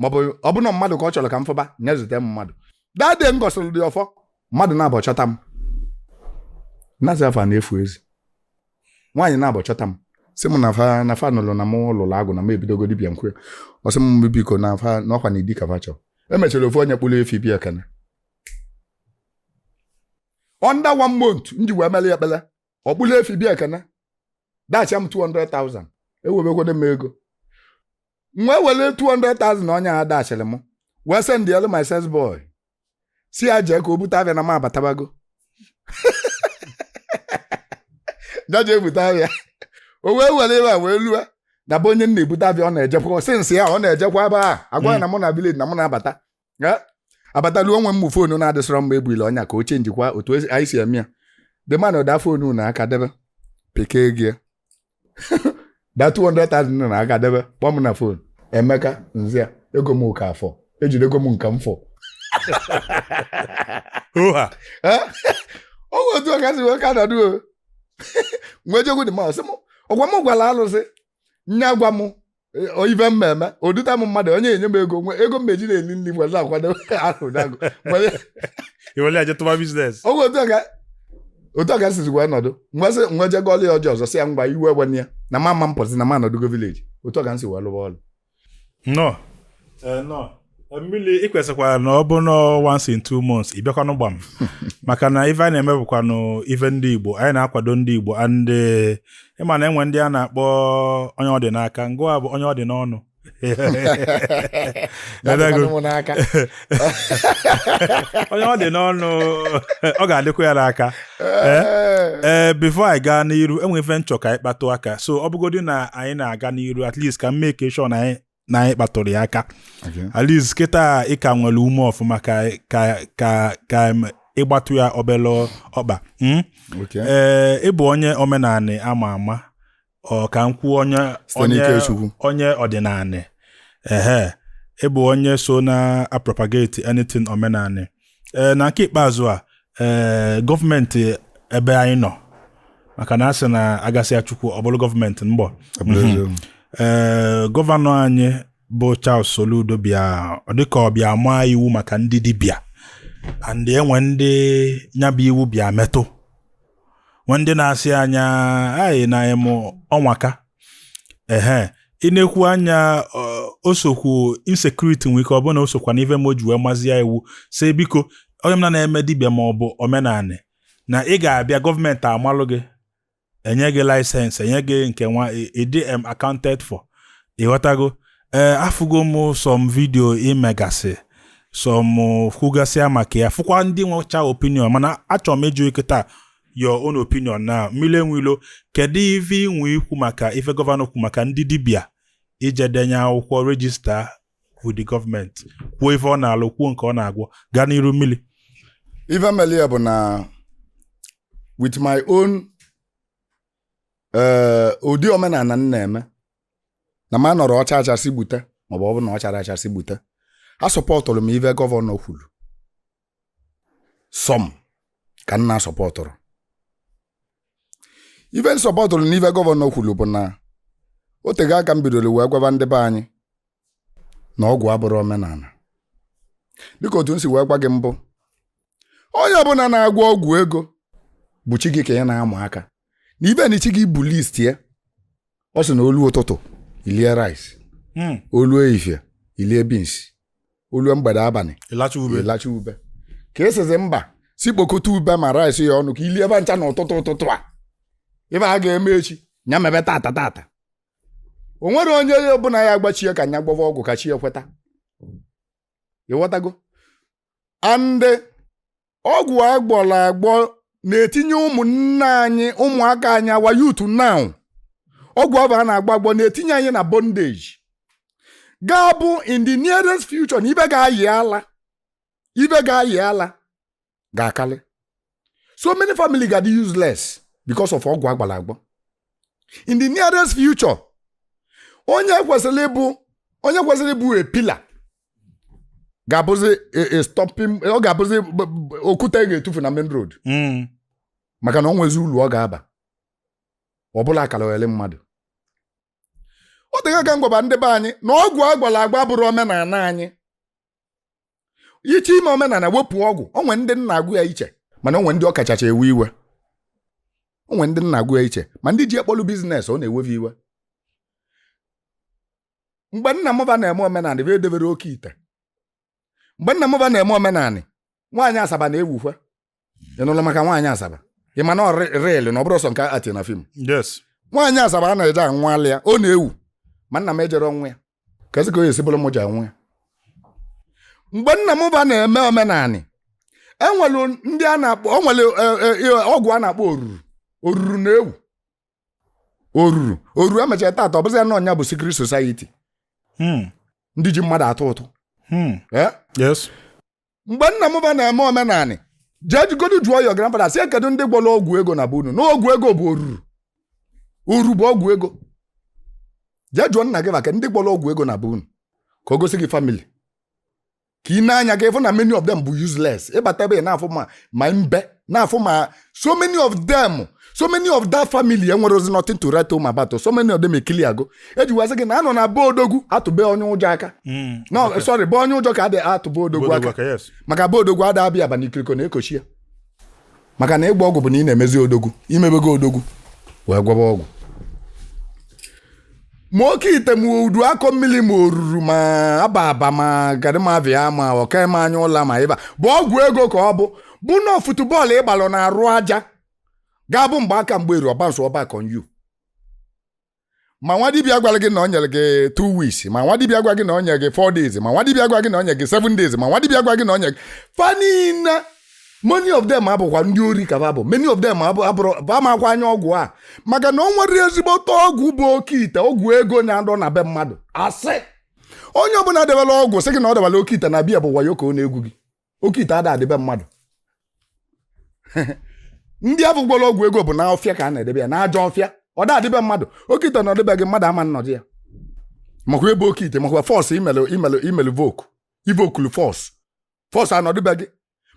Speaker 1: maọbụ ọ bụ na mmadụ ka ọ chọrọ ka m fụba nya zute m mmadụ that day m gọsịrị dị ọfọ mmadụ naabọ chọta m nazi afa na-efu ezi nwaanyị naabọ chọta m sị m na fa na fa nụlụ na m lụrụ agwụ na m ebidogo dibịa m kwe ọ sị m biko na fa na ọ kwa na di ka fa chọrọ emechara ofu onye kpụrụ efi bịa ekene under one month m ji wee melu ekpele ọ kpụlụ efi bịa ekene dashi m 200,000 ewebekwado m ego m wee were 200,000 onye a dashiri m wee sendelu my sales boy si ya jee ka o bute afịa na m abatabago ya jee bute afịa o wee were ebe a wee lue na be onye m na-ebute afịa ọ na-ejekwa since a ọ na-ejekwa ebe a agwa ya na mụ nọ village na mụ na-abata Ya, abatalu o nwee ụmụ foonu na-adịsịrọ mma ebuile onye a ka o chenjikwa otu esi- anyị si eme ya the man da foonu n'aka debe pekee gị ya. da 200,000 nọ n'aka debe kpọọ m na foonu Emeka zia ego m ka fọ ejidego m nke m
Speaker 2: fụ
Speaker 1: Oha. Eh? ọ bụ otu a ka si wee ka nọdụ m wee jekwu dibịa ọ sị m ọ gwa m gwara alụsị nya gwa m ife m eme o duta m mmadụ onye enye m ego nwe ego m eji na-eli nri were akwado ahụ dago
Speaker 2: iwere aje tụba business oge otu a
Speaker 1: ka otu a ka sizi wee nọdụ mgbasị m wee jee gọọlụ ya ọjị ọzọ sị ya ngwa iwe ewena ya na m ama m pụzi na m anọdụgo village otu a ka m si wee lụwa ọlụ nnọọ
Speaker 2: nnọọ mmiri ị kwesịkwara na ọ bụ na once in two months ị bịakwanụ gbaa m maka na ife anyị na-eme bụkwanụ ife ndị Igbo anyị na-akwado ndị Igbo and eh, ịma na e nwe ndị a na-akpọ onye ọ dị n'aka ngịwa bụ onye ọ dị n'ọnụ Dadago. Ọ dịkwanụ m n'aka. onye ọ dị n'ọnụ ọ ga-adịkwa ya n'aka Eh? ee before anyị gaa n'iru e nwe ife m chọ ka anyị kpatụ aka so ọ bụgodị na anyị na-aga n'iru at least ka m make sure na anyị na anyị kpatụrụ ya aka Okay. at least kịta ị ka nwere ume ọfụma ka ka ka ka em, ị gbatụ ya obele ọkpa mm? Okay. ee ị bụ onye omenanị ama ama or ka m kwuo onye Site n'ike Chukwu. onye ọdịnanị ehe ị bụ onye so na-apropagate anything omenanị ee na nke ikpeazụ a ee gọọmenti ebe anyị nọ maka na a sị na a gasịa Chukwu ọ bụrụ gọọmenti mgbe ee gọvanọ anyị bụ Charles Soludo bịa ọ dịka ọ bịa maa iwu maka ndị dibịa and e nwe ndị nyabụ iwu bịa metụ nwe ndị na-asị anya anyị na ịmụ ọnwaka ehe ị na-ekwu anya osokwu insecurity nwere ike ọ bụ na osokwa n'ife mee o ji wee mazie iwu sị biko onye ọbụna na-eme dibịa ma ọ bụ omenanị na ị ga-abịa gọọmenti amalụ gị enye gị license enye gị nke nwa ị dị accounted for ịghọtago ee afụgo m some video i megasị some kwugasịa maka ya fụkwa ndị nwecha opinion mana achọrọ m ịjụ ị kịtaa your own opinion na mmili enwe ilo kedu ife i nwe ikwu maka ife gọvanọ kwu maka ndị dibịa ije denye akwụkwọ register with the government kwuo ife ọ na-alụ kwuo nke ọ na-agwọ gaa n'iru mmili ife mere
Speaker 1: ya bụ na with my own eh, ụdị omenana m na-eme na m anọrọ ọcha achasị gbute maọbụ ọ bụ na ọ chara achasị gbute asọpọtụrụ m ife gọvanọ kwuru sọm ka m na-asọpọtụrụ ife m sọpọtụrụ n'ife gọvanọ kwuru bụ na o tego aka m bidoro wee gwaba ndị be anyị na ọgwụ abụrọ omenana dịka otu m si wee gwa gị mbụ onye ọbụla na-agwọ ọgwụ ego bụ chi gị ka ị na-ama aka na ife na chi gị bu list ya ọ sị na o lu ụtụtụ i lie rice hmm. o lu efifie i lie beans o lu mgbede abalị ị lacha ube ị lacha ube ka ị sịzị mba sị kpokọta ube ma rice ya ọnụ ka i lie ba ncha na ụtụtụ ụtụtụ a ife a ga-eme echi nya mebe tata tata o nwerọ onye ọbụla ya-agwa chi e ka nya gwọva ọgwụ ka chi e kweta ị ghọtago and ọgwụ a gwọrọ agwọ na-etinye ụmụnne anyị ụmụaka anyị our youth now ọgwụ ahụ a na-agwọ agwọ na-etinye anyị na bondage ga-abụ in the nearest future na ife ga-ayị ala ife ga-ayị ala ga-akarị so many family ga-adị useless because of ọgwụ a gwọrọ agwọ in the nearest future onye kwesịrị ịbụ onye kwesịrị ịbụ a pillar ga-abụzi a- a stopping ọ ga-abụzi b- b- okwute a ga-etufu na main road Mm. maka na o nwezi ulu ọ ga-aba ọ bụlụ akaliogeli mmadụ o tego aka m gwaba ndị be anyị na ọgwụ a gwọrọ agwọ abụrọ omenana anyị ị chọọ ime omenanị wepụ ọgwụ o nwe ndị na-agwọ ya iche mana o nwe ndị ọ kachacha ewe iwe o nwe ndị na-agwọ ya iche ma ndị ji e kpọlụ business ọ na-ewe fa iwe mgbe nna mụ ba na-eme omenanị ba edeberọ oke ite mgbe nna mụ ba na-eme omenanị nwaanyị asaba na-ewukwa ị nụlụ maka nwaanyị asaba ị ma na ọ rị real na ọ bụrọ sọ nke a act na film yes
Speaker 2: nwaanyị asaba a
Speaker 1: na-eje annual ya ọ na-ewu ma nna m ejere annual ya kezi ka ọ ya-esi bụrụ m je annual ya mgbe nna m ba na-eme omenanị e nwere ndị a na-akpọ o nwere eh, eh, eh, ọgwụ a na-akpọ oruru oruru na-ewu oruru oruru e mechara tata ọ bụzi ya na ọnya bụ secret society Hmm. ndị ji mmadụ atụ ụtụ Hmm. Eh? yes mgbe nna m ba na-eme omenanị jee jegodi jụọ your grandfather sị kedu ndị gwọrọ ọgwụ ego na be unu na ọgwụ ego bụ oruru oru bụ ọgwụ ego jee jụọ nna gị maka ndị gwọrọ ọgwụ ego na be unu ka o gosi gị family ka ị nee anya ka ị fụ na many of them bụ useless ị bata ebe ị na-afụ ma ma mbe na-afụ ma so many of them so many of that family enwerọzi nothing to write home about so many of them ekili ago e ji gwazi gị na a nọ na be odogwu atụ be onye ụjọ aka hmm, no sorry be onye ụjọ ka a dị atụ be odogwu aka maka be odogwu ada abịa aba n'ikiriko na ekochi ya maka na ịgba ọgwụ bụ na ị na-emezi odogwu i mebego odogwu wee gwọba ọgwụ ma oke ite ma udu akọ mmili ma oruru ma aba aba ma gadịmavia ma ọka eme anya ụla ma ịba bụ ọgwụ ego ka ọ bụ bụ na football ị gbalụ n'arụ aja ga-abụ mgbe aka mgbe eru ọ bounce-ọ back on you ma nwa dibịa gwara gị na o nyere gị 2 weeks ma nwa dibịa gwa gị na o nyere gị 4 days ma nwa dibịa gwa gị na o nyere gị 7 days ma nwa dibịa gwa gị na o nyere gị fa niine many of them abụkwa ndị ori ka va bụ many of them abụrọ va makwa anya ọgwụ a maka na o nwerọ ezigbote ọgwụ bụ oke ite ọgwụ ego na-adọ na be mmadụ asị onye ọbụla debelụ ọgwụ sị gị na o debelụ oke ite na be ya bụ wayo ka ọ na-egwu gị oke ite ada adị be mmadụ ndị afụ gwọrọ ọgwụ ego bụ na ọfịa ka a na-edebe ya na ajọ ọfịa ọ da adị be mmadụ oke ite nọdụ be gị mmadụ ama nnọdụ ya makwa ebe oke ite makwa force i melu i melu i melu invoke invoke-lu force force anọdụ be gị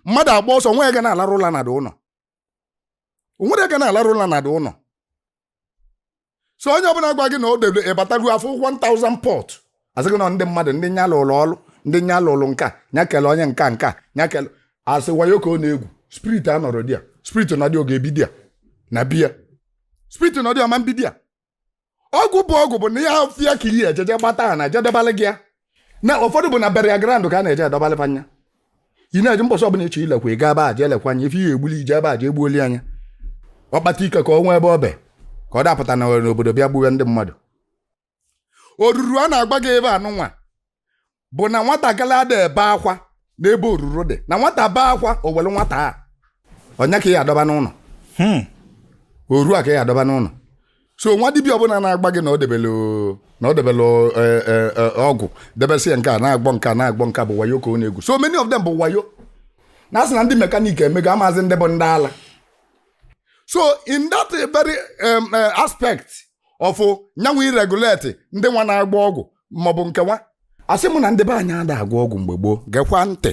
Speaker 1: mmadụ agba ọsọ nwee onye ga na-alarụ ụla na the ụnọ o nwerọ onye ga na-alarụ ụla na the ụnọ so onye ọbụla gwa gị na o debe ị batago afụ 1000 pot asị gị na ndị mmadụ ndị nya lụlụ ọlụ ndị nya lụlụ nka nya kele onye nka nka nya kele asị wayo ka ọ na-egwu spirit anọrọ there spirit nọdụ ọ ga-ebi there na be ya spirit nọdụ ọ ma mbi there ọgwụ bụ ọgwụ bụ na ajọ ọfịa ka iyi ejeje gbata a na-eje edebalị gị ya na ụfọdụ bụ na burial ground ka a na-eje edobalị anya ị na-eje mbọsị ọbụla ị chọ ilekwa ị gaa ebe a jee lekwa anya ife i je-egbuli i jee ebe a jee gbuoli nya ọkpata ike ka o nwee ebe ọ be ka ọ dapụta na n'obodo bịa gbuwe ndị mmadụ oruru a na-agwa gị ebe anụnwa bụ na nwatakịrị ada ebe akwa n'ebe oruru dị na nwata bee akwa o were nwata a ọ nya ka ị ya-adọba n'ụnọ hmm. oruru ka ị ya-adọba n'ụnọ so nwa dibịa ọbụla na-agwa gị na o debelụ na o debelụ e, e, e, ọgwụ debesịa nke a na-agwọ nke a na-agwọ nke bụ wayo ka ọ na-egwu so many of them bụ wayo na asị na ndị mekaniki emego amazị ndị bụ ndị ala so in that very um, uh, aspect of nya nwa ị regulate ndị nwa na-agwọ ọgwụ maọbụ nke nwa asị m na ndị be anyị ada agwọ ọgwụ mgbe gboo gekwa ntị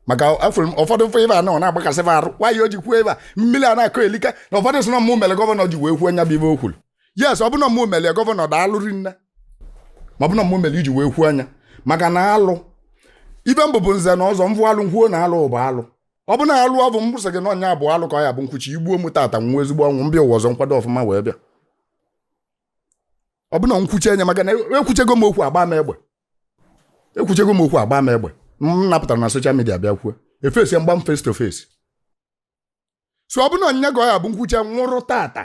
Speaker 1: maka afụrụ m ụfọdụ ife ebe a nọ na-agbakasị m arụ nwaanyị o ji kwuo ebe a mmiri a na-akọ elika na ụfọdụ sị na mụ mere governor ji wee kwuo nya bụ ife o kwuru yes ọ bụ na mụ mere governor daalụ rinne ma ọ bụ na mụ mere iji wee kwuo nya maka na alụ ife m bụ bụ nze na ọzọ m vụ alụ m kwuo na alụ bụ alụ ọ bụ na alụ ọ bụ m sị gị na ọ nya bụ alụ ka ọ ya bụ m kwuche i gbuo m tata m nwụọ ezigbo ọnwụ m bịa ụwa ọzọ m kwado ọfụma wee bịa ọ bụ na m kwuche nya maka na ekwuchego m okwu a gbaa m egbe ekwuchego m okwu a gbaa m egbe m na-apụtarọ na social media bịa kwuo e fesi m gbaa m face to face so ọ bụ na ọ nya ka ọ ya bụ m kwuche m nwụrụ tata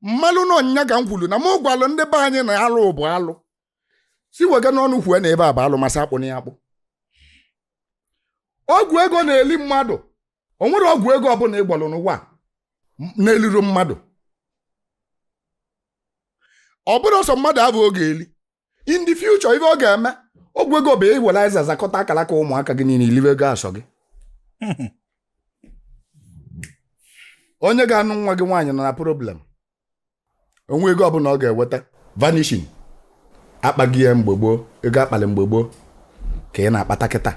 Speaker 1: m malụ na ọ nya ka m kwuru na m gwalụ ndị be anyị na alụ bụ alụ si wega n'ọnụ kwue na ebe a bụ alụ ma sị akpụ na ya akpụ ọgwụ ego na-eli mmadụ o nwerọ ọgwụ ego ọbụla ị gwọlụ n'ụwa a na-elirọ mmadụ ọ bụrọ sọ mmadụ abụ ọ ga-eli in the future ife ọ ga-eme ọgwụ ego bụ iwere azịza zakọta akaraka ụmụaka gị niile i liwe ego a sọ gị onye ga-anụ nwa gị nwaanyị nọ na problem o nwe ego ọbụla ọ ga-eweta vanishing akpaghị ya mgbe gboo ego a kpalụ mgbe gboo ka ị na-akpata kịta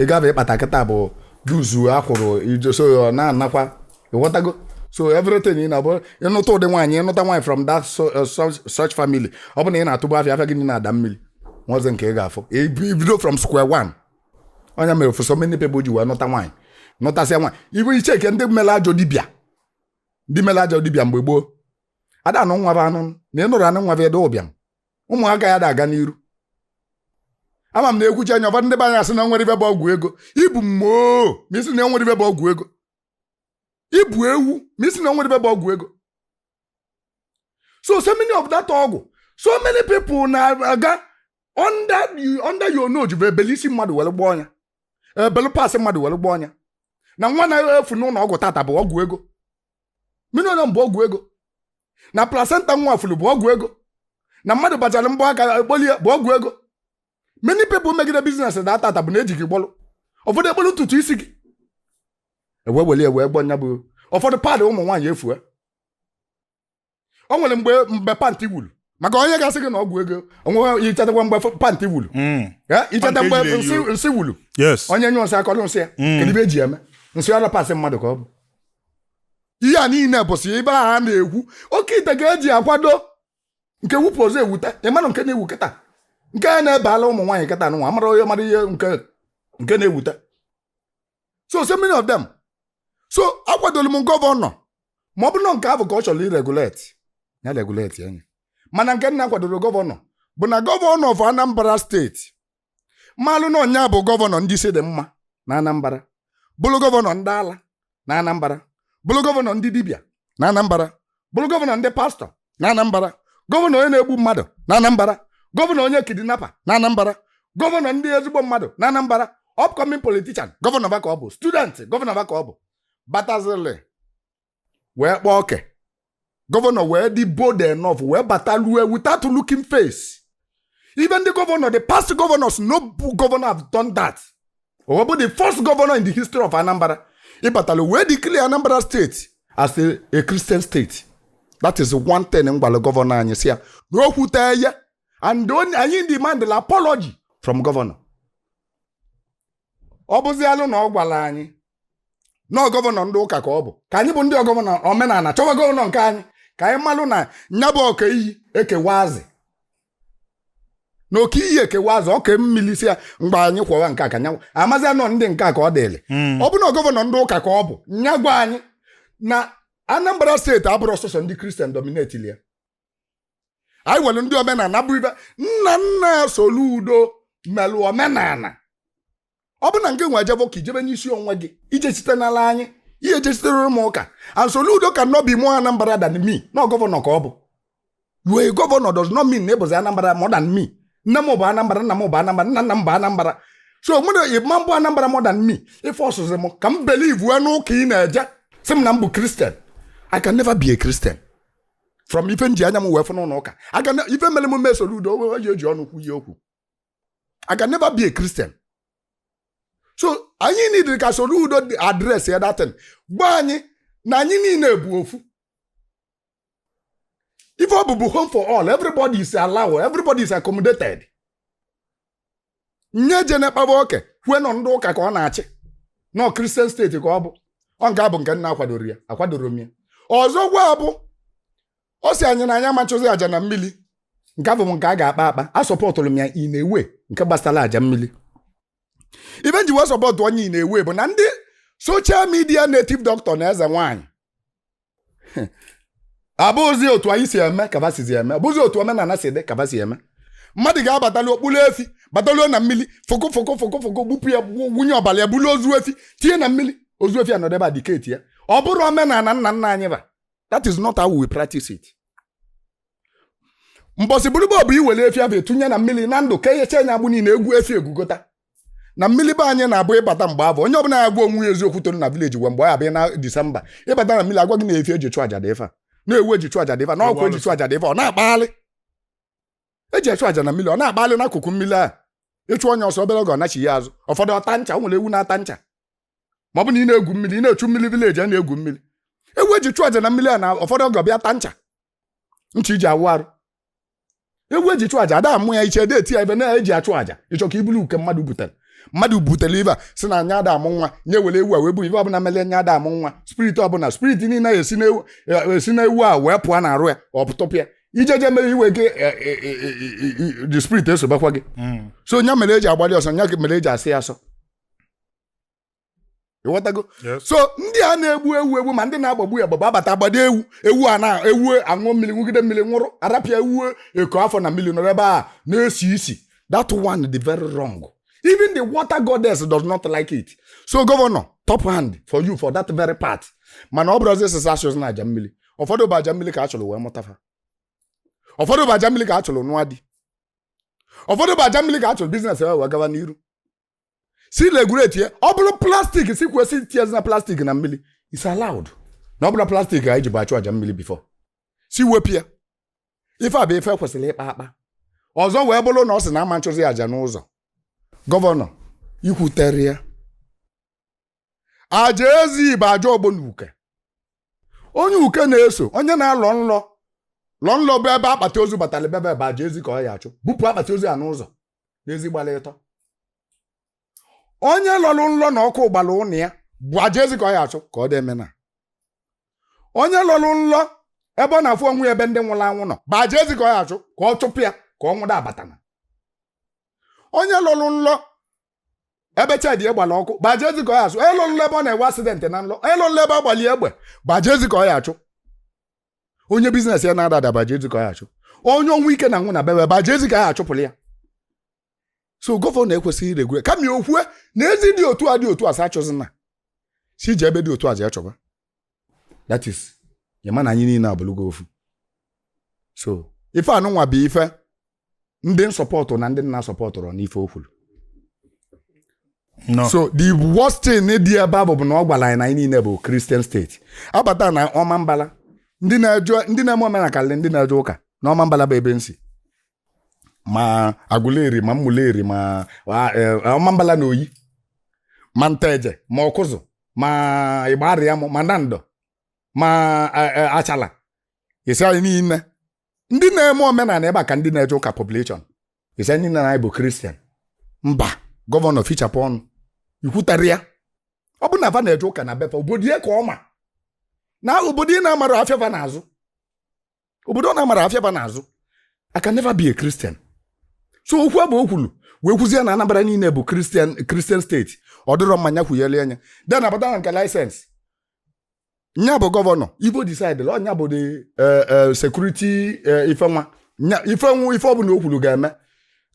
Speaker 1: ego abụ ị kpata kịta bụ dues a kwụrụ ijoso ya ọ na-anakwa ị ghọtago so everything ị na-abụ ị nụta ụdị nwaanyị ị nụta nwaanyị from that uh, such family ọ bụ na ị na-atụbụ afịa afịa gị niile adaa mmiri o nwezi nke ị ga-afụ i bido from square one ọ nya mere for so many people ji wee nụta nwaanyị nụtasịa nwaanyị ibu iche ike ndị mere ajọ dibịa ndị mere ajọ dibịa mgbe gboo a da-anụ nwa bụ anụ na ị nụrụ anụ nwa bụ ede ụbịam ụmụaka ya ada-aga n'iru ama m na e kwuche nya ụfọdụ ndị be anyị asị na e nwerọ ife bụ ọgwụ ego ị bụ mumu ma ị sị na e nwerọ ife bụ ọgwụ ego ị bụ ewu ma ị sị na o nwerọ ife bụ ọgwụ ego so so many of that ọgwụ so many people na-aga under the- under your nose bụ e belu isi mmadụ were gwọọ nya e belu parts mmadụ were gwọọ nya na nwa na-efu n'ụlọ ọgwụ tata bụ ọgwụ ego mmiri ọnya bụ ọgwụ ego na placenta nwa furu bụ ọgwụ ego na mmadụ bachara mbọ aka e kpolie bụ ọgwụ ego many people megide business a tata bụ na e ji gị gwọlụ ụfọdụ e kpolu ntutu isi gị e wee weli e wee gwọ nya bụ ụfọdụ pad ụmụ nwaanyị efue o nwere mgbe mgbe pantị wuru maka onye ga-asị gị na ọgwụ ego onwe i chetakwa mgbe f- pantị wuru Mm. Eh, i cheta Pantị mgbe ejiri eyi nsị- nsị wuru yes onye nyụ nsị a kọrọ nsị ya Mm. kedu ife e ji eme nsị ọ bụrọ parts mmadụ ka ọ bụ ihe a niile bụsị ife a ha na-ekwu oke ite ka e ji akwado nke wupụ ọzọ ewute ị manụ nke na-ewu kịta nke a na-ebe ala ụmụ nwaanyị kịta nwa a mara onye mara ihe nke nke na-ewute so so many of them so akwadolu m gọvanọ ma ọ bụrụ na nke ahụ ka ọ chọrọ iregulate ya regulate nya mana nke m na-akwadorọ gọvanọ bụ na gọvanọ of Anambra state malụ na ọ nya bụ gọvanọ ndị isi dị mma na Anambra bụrụ gọvanọ ndị ala na Anambra bụrụ gọvanọ ndị dibịa na Anambra bụrụ gọvanọ ndị pastọ na Anambra gọvanọ onye na-egbu mmadụ na Anambra gọvanọ onye kidnapa na Anambra gọvanọ ndị ezigbo mmadụ na Anambra upcoming politician gọvanọ va ka ọ bụ student gọvanọ va ka ọ bụ batazili wee kpaa oke gọvanọ wee dị bold enough wee bata lue without looking face even the governor the past governors no governor have done that o wee bụ the first governor in the history of anambra ịbatalụ wee declare anambra state as a, a christian state that is one thing m gwalụ gọvanọ anyị sị ya na o kwute ya and anyị demand la apology from gọvanọ ọ bụzialụ na ọ gwara anyị na gọvanọ ndị ụka ka ọ bụ ka anyị bụ ndị ọgọ omenala chọwa gọvanọ nke anyị ka anyị malụ na nya bụ ọka iyi ekewa azị na oke iyi ekewa azị ọka mmili si ya mgbe anyị kwọwa nke a ka nyanwụ amazi anọ ndị nke a ka ọ dịrị Mm. ọ bụ na gọvanọ ndị ụka ka ọ bụ nya gwa anyị na anambra steeti abụrọ sọsọ ndị kristian dominetili ya anyị nwere ndị omenala bụ ife nna nna soludo melụ omenala ọ bụ na ngị wee jebe ụka i jebe n'isi onwe gị ije site n'ala anyị ihe ejesitere m ụka and Soludo cannot be more Anambra than me na gọvanọ ka ọ bụ you a governor does not mean na ị bụzi Anambra more than me nne m bụ Anambra nna m bụ Anambra nna nna m bụ Anambra so mmadụ ị ma-abụ Anambra more than me ị fọsụzi m ka m believe wee n'ụka ị na-eje sị m na m bụ Christian I can never be a Christian from ife m ji anya m wee fụ n'ụlọ ụka aga ife mere m mee Soludo owe oji oji ọnụ kwuye okwu I can never be a Christian. so anyị nidiri ka Soludo address ya that thing gwa anyị na anyị niile bụ ofu ife ọ bụ bụ home for all everybody is allowed everybody is accommodated nya ejene kpaba oke kwue na ọ ndị ụka ka ọ na-achị na ọ kristian steeti ka ọ bụ ọ nke a bụ nke m na-akwadorọ ya akwadorọ m ya ọzọkwa bụ ọ sị anyị na anyị ama achụzi aja na mmili nke afụ bụ nke a ga-akpa akpa asọpọtụlụ m ya in a way nke gbasara aja mmili ife m ji wee sọpọtụọ nya in a way bụ na ndị soshal midia native doctor na eze nwaanyị abụzi otu anyị si eme ka va sizi eme abụzi otu omenala si dị ka va si eme mmadụ ga-abatali kpụrụ efi bataluo na mmili fụkụ fụkụ fụkụ fụkụ gbupụ ya gbu- wụnye ọbara ya bulu ozu efi tinye na mmili ozu efi anọdụ ebe a diketi ya ọ bụrọ omenala nna nna anyị ba that is not how we practice it mbọsị bụrụ bọọbụ iwere efi afụ etunye na mmiri na ndụ ka eyecha anya agbụ niile egwu efi egwugota na mmiri be anyị na-abụ ịbata mgbe afụ onye ọbụla ya gwa onwe ya eziokwu toro na vileji gwa mgbe ọ abịa na disemba ịbata na mmiri agwa gị na efi eji chụ aja dị ife a na ewu eji chụ aja dị ife a na ọkụkụ eji chụ aja dị ife a ọ na-akpagharị eji achụ aja na mmiri ọ na-akpagharị n'akụkụ mmiri achụ onye ọsọ obere oge ọ nachi ya azụ ụfọdụ ọ taa ncha o nwere ewu na-ata ncha ma ọ bụ na ị na-egwu mmiri ị na-echu mmiri vileji a na-egwu mmiri ewu eji chụọ aja na mmiri a na ụfọdụ oge ọ bịa ta ncha ncha iji awụ arụ ewu eji chụọ aja ada amụ ya iche ada eti ya ife na-eji achụ aja ịchọ ka ibulu uke mmadụ butere mmadụ butere ife a sị na nya ada amụ nwa nya were ewu a wee bụ ife ọbụla mere nya ada amụ nwa spirit ọbụla spirit niile esi n'ewu esi n'ewu a wee pụọ na arụ ya ọ pụtọpụ ya ijeje mere iwe gị the spirit esobakwa gị so nya mere eji agbalị ọsọ nya mere eji asọ ya asọ ịghọtago so ndị a na-egbu ewu egbu ma ndị na-agbagbu ya gbagba abata agbado ewu ewu a na ewu aṅụ mmiri ṅụgide mmiri nwụrụ a rapụ ya ewu eko afọ na mmiri nọrọ ebe a na-esi isi that one dị very wrong even the water goddess does not like it so gọvanọ top hand for you for that very part mana ọ bụrụzi sị sa achụzina aja mmiri ụfọdụ bụ aja mmiri ka a chụrụ wee mụta fa ụfọdụ bụ aja mmiri ka a chụrụ nụọ di ụfọdụ bụ aja mmiri ka a chụrụ biznes wee gawa n'iru si regulate ya ọ bụrụ plastik si kwụsị etinyezina plastik na mmiri is allowed na ọ bụrọ plastik anyị ji bụ achụ aja mmiri bifo si wepụ ya ife a bụ ife kwesịrị ịkpa akpa ọzọ wee bụrụ na ọ sị na ama achụzi aja n'ụzọ gọvanọ ikwuterọ ya aja ezi bụ aja ọgbọ na uke onye uke na-eso onye na-alọ nlọ lọ nlọ bụ ebe akpati ozu batara be ya bụ aja ezi ka ọ ya achụ bupụ akpati ozu ya n'ụzọ n'ezi gbara ịtọ onye lọrụ nlọ na ọkụ gbara ụnụ ya bụ aja ezi ka ọ ya achụ ka ọ dị emena onye lọrụ nlọ ebe ọ na-afụ onwe ya ebe ndị nwụrụ anwụ nọ bụ aja ezi ka ọ ya achụ ka ọ chụpụ ya ka ọnwụ da abatana onye lọrụ nlọ ebe shedi gbara ọkụ bụ aja ezi ka ọ ya achụ onye lọrụ nlọ ebe ọ na-enwe asidentị na nlọ onye lọrụ nlọ ebe a gbara ya egbe bụ aja ezi ka ọ ya achụ onye biznes ya na-ada ada bụ aja ezi ka ọ ya achụ onye ọnwụ ike na-anwụ na be ya bụ aja ezi ka ya achụpụrụ ya so gọvanọ ekwesịghị iregulate kama ya okwue na ezi dị otu a dị otu a sa achụzina si je ebe dị otu a je achụba that is ya ma na anyị niile abụlụgo ofu so ife anụnwa bụ ife ndị na-asọpọtụ na ndị na-asọpọtụrọ n'ife o
Speaker 2: kwulu No. so the
Speaker 1: worst thing dị ebe abụ bụ na ọ gwara anyị na anyị niile bụ Christian state a bata na Ọmambala ndị na-eje ndị na-eme omenala kalịlị ndị na-eje ụka na Ọmambala bụ ebe m si ma Aguleri ma Umuleri ma a- e, Ọmambala na Oyi ma Nteje ma Ọkụzụ ma Igbariam ma Nando ma e, e, Achala isi anyị niile ndị na-eme omenala ebe a ka ndị na-eje ụka population ị sị anyị niile anyị bụ Christian mba gọvanọ fichapụ ọnụ i kwutarọ ya ọ bụ na va na-eje ụka na be fa obodo ya ka ọ ma na obodo ị na-amarọ afịa ba na-azụ obodo ọ na-amarọ afịa ba na-azụ I can never be a Christian so okwu abụ o kwulu wee kwuzie na Anambra niile bụ Christian Christian state ọ dịrọ mma nya kwuyalịa nya then a bata na nke license nya bụ gọvanọ ive ọ decidelụ ọ nya bụ the eh, eh, security eh, ife nwa nya ife nwa ife ọbụna o kwulu ga-eme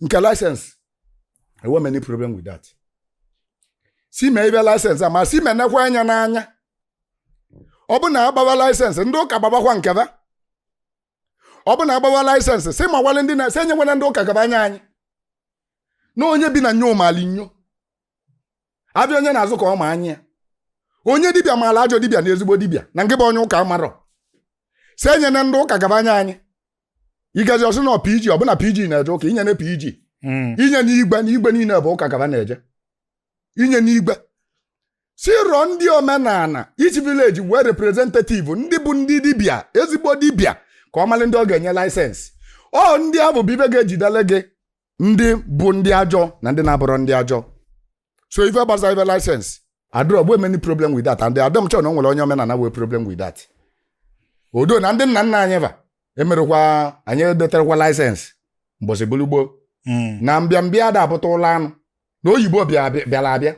Speaker 1: nke license enwerọ m any problem with that sị mee ịgba license a ma sị menekwa anya n'anya ọ bụ na a gbawa license ndị ụka gbabakwa nke ba ọ bụ na a gbawa license sị mawale ndị na sị enyekwana ndị ụka ka ba nye anyị na onye bi na nyo mali nyo avịa onye na-azụ ka ọ ma anya onye dibịa malụ ajọ dibịa na ezigbo dibịa na nke bụ onye ụka amarọ sị enyena ndị ụka ka ba nye anyị ị gazie ọ sị na PG ọ bụ na PG na-eje ụka enyena PG hmm. enyena igwe na igwe niile bụ ụka ka ba na-eje enyena igwe sị rọọ ndị omenala each village nwee representative ndị bụ ndị dibịa ezigbo dibịa ka ọ malị ndị ọ ga-enye license ọ ndị abụ bụ ive ga-ejidele gị ndị bụ ndị ajọ na ndị na-abụrọ ndị ajọ so ife gbasa ife license adịrọ bụ m any problem with that and adịrọ m sure na o nwere onye omenala nwee problem with that although na ndị nna nna anyị va emerọkwa anyị edeterọkwa license mbọsị bụlụ gboo na mbịambịa ada abụta ụlọ anụ na oyibo bịa- bịa- bịara abịa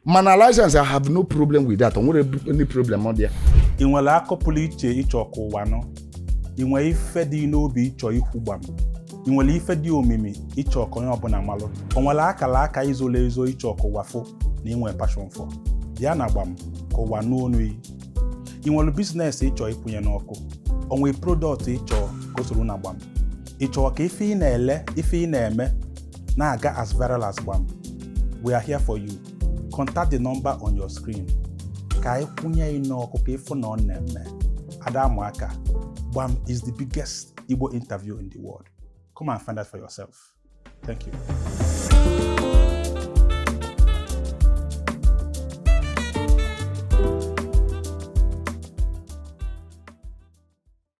Speaker 1: mana license I have no problem with that o nwerọ any problem dị ya i nwere akọ
Speaker 2: pụrụ iche ị chọ ka ụwa nụ i nwere ife dị n'obi ị chọ ikwu gbam i nwere ife dị omimi ị chọ ka onye ọbụla malụ o nwere akala aka i zolu ezo ị chọ ka ụwa fụ na i nwere passion for bịa na gbam ka ụwa nụ onu yi i nwere business ị chọ ịkwụnye n'ọkụ o nwere product ị chọ ka o soro na gbam ị chọrọ ka ife ị na-ele ife ị na-eme na-aga as viral as gbam we are here for you contact the number on your screen ka anyị kwụnye yị n'ọkụ ka ị fụ na ọ na-eme ada amụ aka gbam is the biggest Igbo interview in the world come and find out for yourself thank you